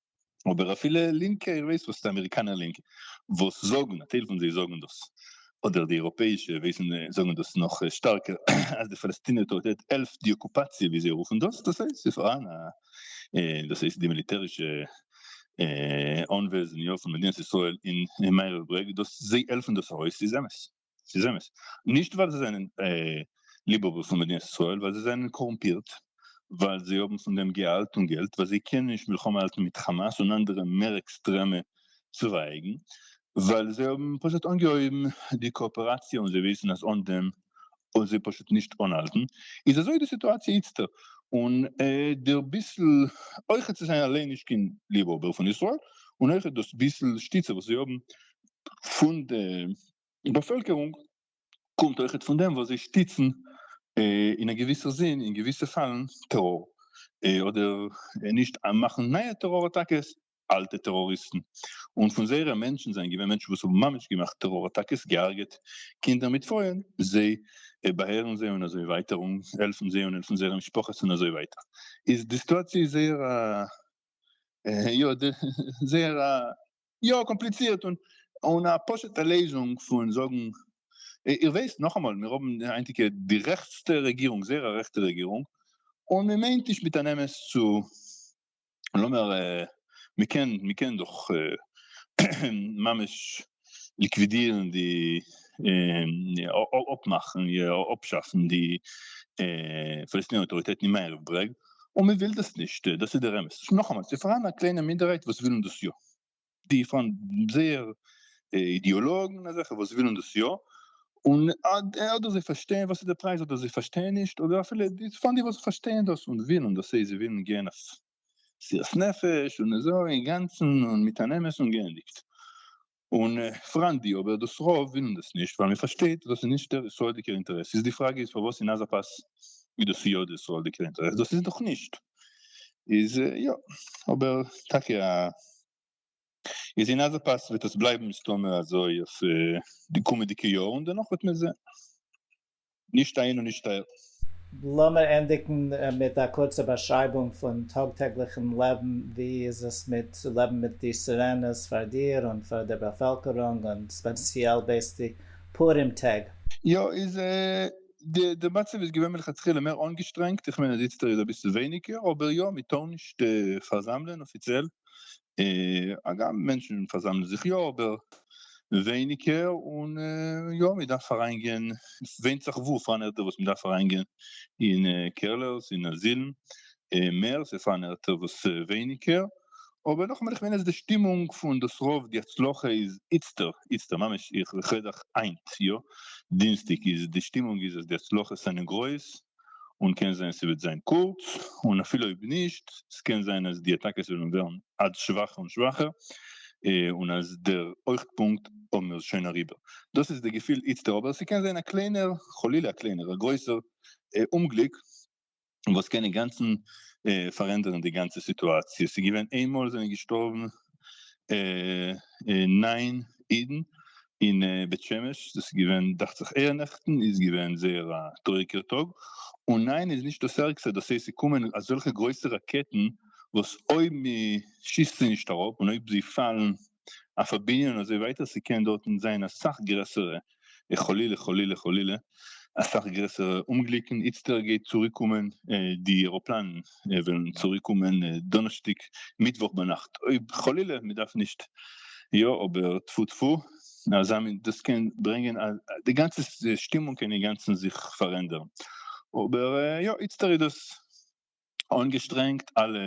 אבער אפילו לינקע, איך ווייס וואס די אמעריקאנער לינקע וואס זאגן, א טייל פון זיי זאגן דאס, אדער די אייראפעאישע ווייסן זאגן דאס נאך שטארקער, אז די פאלעסטינע אויטאריטעט העלפט די אקופאציע ווי זיי רופן דאס, דאס הייסט ס'איז פאראן א, דאס הייסט די מיליטערישע אנוועזן יא פון מדינת ישראל אין מערב ברעג, דאס זיי העלפן דאס ארויס איז אמת. ס'איז אמת. נישט ווייל זיי זענען ליבהאבער פון מדינת ישראל, ווייל זיי זענען קארומפירט, ווייל זיי האבן פון דעם געהאלט און געלט, ווייל זיי קענען נישט מלחמה האלטן מיט חאמאס און אנדערע מער עקסטרעמע צווייגן, ווייל זיי האבן פשוט אנגעהויבן די קאאפעראציע און זיי ווייסן אז אן דעם וועלן זיי פשוט נישט אנהאלטן, איז אזוי די סיטואציע איצטער. און דער ביסל אויכעט זיי זענען אליין נישט קיין ליבהאבער פון ישראל, און אויכעט דאס ביסל שטיצע וואס זיי האבן פון די די באפעלקערונג קומט אויכעט פון דעם וואס זיי שטיצן אין א געוויסע זין אין געוויסע פאלן טעראר אדער נישט מאכן נייע טעראר אטאקעס אלטע טעראריסטן און פון זייערע מענטשן זענען געווען מענטשן וואס האבן ממש געמאכט טעראר אטאקעס געהארגעט קינדער מיט פרויען זיי באעהרן זיי און אזוי ווייטער און העלפן זיי און העלפן זייערע משפחות און אזוי ווייטער איז די סיטואציע איז זייער א יא זייער א יא קאמפליצירט און און א פשוט'ע לעזונג פון זאגן, איר ווייסט נאכאמאל מיר האבן די היינטיגע די רעכטסטע רעגירונג זייער א רעכטע רעגירונג און מען מיינט נישט מיט אן אמת צו לאמיר מען קען מען קען דאך ממש ליקווידירן די אפמאכן אפשאפן די פאלעסטינער אויטאריטעטן אין מערב ברעג. און מען וויל דאס נישט, דאס איז דער אמת, נאכאמאל ס'איז פארהאן א קליינע מינדערהייט וואס ווילן דאס יא, די פארהאן זייער אידעאלאגן אזעלכע וואס ווילן דאס יא, און אדער זיי פארשטייען וואס איז דער פרייז אדער זיי פארשטייען נישט, אדער אפילו פארהאן די וואס פארשטייען דאס און ווילן דאס, זיי ווילן גיין אויף מסירת נפש און אזוי אינגאנצן און מיט אן אמת און געענדיגט, און פאראן די אבער דאס רוב ווילן דאס נישט ווייל מען פארשטייט אז דאס איז נישט דער ישראלדיגער אינטערעס איז די פראגע איז פארוואס אין עזה פאס איז דאס יא דער ישראלדיגער אינטערעס דאס איז דאך נישט איז יא אבער טאקע א איז אין עזה פאס וועט עס בלייבן מסתמא אזוי אויף די קומעדיגע יאר און דערנאך וועט מען זעהן. נישט איין און נישט טייל. לאמיר ענדיגן מיט א קורצע באשרייבונג פון טאג-טעגליכן לעבן, ווי איז עס מיט צו לעבן מיט די סירענעס פאר דיר און פאר דער באפעלקערונג און ספעציעל בעת די פורים טעג? יא, איז די מצב איז געווען מלכתחילה מער אנגעשטרענגט, איך מיין אז איצטער איז אביסל ווייניגער, אבער יא, מ'טאר נישט פארזאמלען אפיציעל, הגם מענטשן פארזאמלען זיך יא אבער ווייניגער, און יא מען דארף אריינגיין, ווענדט זיך וואו, פאר אן ערטער וואס מען דארף אריינגיין אין קעלערס אין אזילן מער, ס'איז פארהאן ערטער וואס ווייניגער, אבער נאכאמאל איך מיין אז די שטימונג פון דאס רוב די הצלחה איז איצטער, איצטער ממש איך רעד דאך היינט יא דינסטאג איז די שטימונג איז אז די הצלחות זענען גרויס, און קען זיין ס'וועט זיין קורץ, און אפילו אויב נישט, ס'קען זיין אז די אטאקעס וועלן ווערן עד שוואכער און שוואכער, און אז דער הויכפונקט האבן מיר שוין אריבער. דאס איז די געפיל איצטער, אבער ס'קען זיין א קליינער, חלילה א קליינער, א גרויסער אומגליק וואס קען אינגאנצן פארענדערן די גאנצע סיטואציע. ס'געווען איינמאל זענען געשטארבן נײַן אידן אין בית שמש, דאס איז געווען דאכט זיך אייערנעכטן, איז געווען זייער א טרויעריגער טאג, און ניין איז נישט דאס ערגסטע, דאס הייסט ס'קומען אזעלכע גרויסע ראקעטן וואס אויב מ'שיסט זיי נישט אראפ און אויב זיי פאלן אויף א בנין און אזוי ווייטער ס'קען דארטן זיין אסאך גרעסערע חלילה חלילה חלילה אסאך גרעסערע אומגליקן, איצטער גייט צוריק קומען די עראפלאנען וועלן צוריק קומען דאנערשטאג מיטוואך ביינאכט אויב חלילה מען דארף נישט יא אבער טפו טפו אזא מין דאס קען ברענגען אז די גאנצע שטימונג קען אינגאנצן זיך פארענדערן אבער יא איצטער איז דאס אנגעשטרענגט, אלע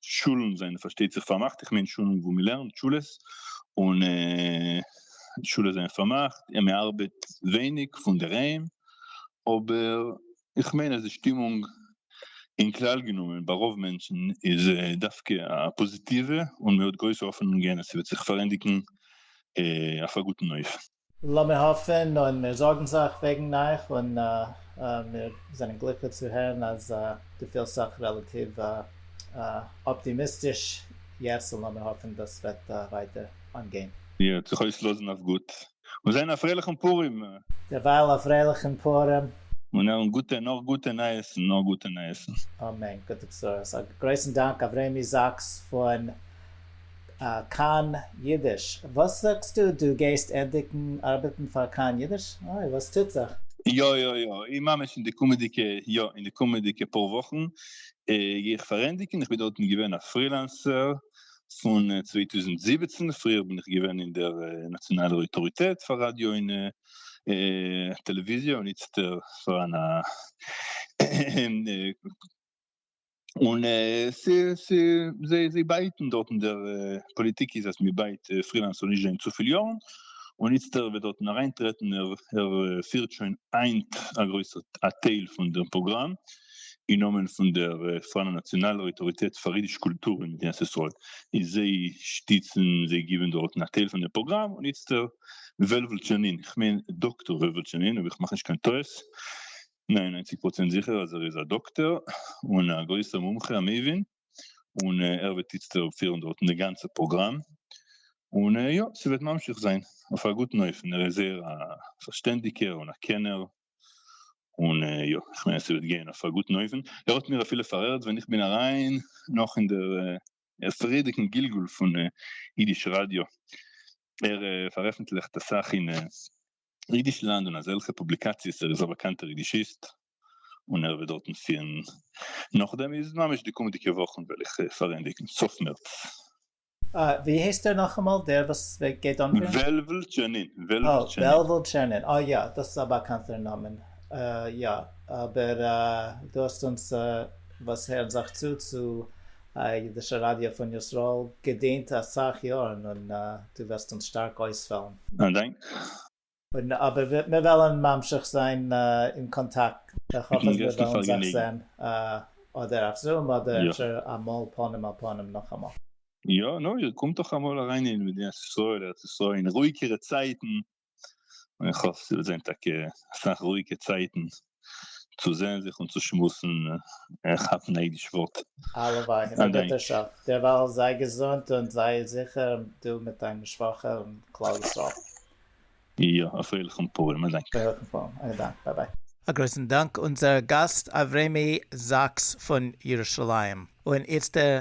שולן זענען פארשטייט זיך פארמאכט, איך מיין שולן וואו מען לערנט, שולעס, און שולעס זענען פארמאכט, און מען ארבעט ווייניג פון דערהיים, אבער איך מיין אז די שטימונג אין כלל גענומען ביי רוב מענטשן איז דווקא א פאזיטיווע, און מען האט גרויסע האפענונגען אז ס'וועט זיך פארענדיגן אויף א גוטן אופן. לאמיר האפן און מיר זארגן זיך וועגן אייך און מיר זענען גליקליך צו הערן אז דו פילסט זיך רעלאטיוו אפטימיסטיש יעצט און לאמיר האפן דאס וועט ווייטער אנגיין. מיר וועט זיך אויסלאזן אויף גוט און זען א פרייליכן פורים! דערווייל א פרייליכן פורים! און הערן גוטע נאר גוטע נייעסן נאר גוטע נייעסן! אמן גוטע בשורות! א גרויסן דאנק אברעמי זאקס פון. כאן אידיש, וואס זאגסטו דו גייסט ענדיגן ארבעטן פאר כאן אידיש? אוי וואס טוט זיך? יא יא יא און ממש אין די קומעדיגע יא אין די קומעדיגע פאר וואכן גיי איך פארענדיגן, איך בין דארטן געווען א פרילענסער פון צוויי טויזנט זיבעצן, פריער בין איך געווען אין דער נאציאנאלער אויטאריטעט פאר ראדיא און טעלעוויזיע און איצטער פאר אן און זיי בייטן דארטן, דער פאליטיק איז אז מ'בייט פרילאנס זאל נישט זיין צופיל יארן, און איצטער ער וועט דארטן אריינטרעטן, ער פירט שוין היינט א גרויסע א טייל פון דעם פראגראם, אין נאמען פון דער פארנער נאציאנאלער אויטאריטעט פאר אידיש קולטור אין מדינת ישראל, און זיי שטיצן, זיי גיבן דארטן א טייל פון דעם פראגראם, און איצטער וועלוול טשענין, כ'מיין דאקטאר וועלוול טשענין אויב איך מאך נישט קיין טעות, ניין ניינציג פראצענט זיכער אז ער איז א דאקטער און א גרויסער מומחה א מבין און ער וועט איצטער פירן דארטן די גאנצע פראגראם און יא ס'וועט ממשיך זיין אויף א גוטן אופן ער איז זייער א פארשטענדיגער און א קענער און יא כ'מיין אז ס'וועט גיין אויף א גוטן אופן ער האט מיר אפילו פארהערט ווען איך בין אריין נאך אין דער פריערדיגן גלגול פון אידיש ראדיא ער פארעפנטליכט אסאך אין אידיש לאנד און אזעלכע פובליקאציעס ער איז א באקאנטער אידישיסט און ער וועט דארטן פירן נאכדעם איז ממש די קומענדיגע וואכן וועל איך פארענדיגן סוף מערץ. אה, ווי הייסט ער נאכאמאל דער וואס גייט אנפירן? וועלוול טשערנין, וועלוול אה, טשערנין. וועלוול טשערנין, אה יא, דאס איז א באקאנטער נאמען, אה יא, אבער אה, דו האסט אונז אה, וואס הערן זיך צו צו א אידישע ראדיא פון ישראל געדינט אסאך יארן און דו וועסט אונז שטארק אויספעלן. א דאנק. און אבער מיר וועלן ממשיך זיין אין קאנטאקט, איך האף אז מיר וועלן זיך זען אדער אויף זום אדער אפשר אמאל פנים אל פנים נאכאמאל. יא, נו, איר קומט דאך אמאל אריין אין מדינת ישראל, ארץ ישראל, אין רואיגערע צייטן. און איך האף ס'וועט זיין טאקע אסאך רואיגע צייטן צו זען זיך און צו שמועסן און כאפן א אידיש ווארט. הלוואי, אין א גוטער שעה. דערווייל זיי געזונט און זיי זיכער, דו מיט דיין משפחה און כלל ישראל. יא, א פרייליכן פורים. א דאנק. פרייליכן פורים. א דאנק. ביי ביי. א גרויסן דאנק אונזער גאסט אברעמי זאקס פון ירושלים. און איצטער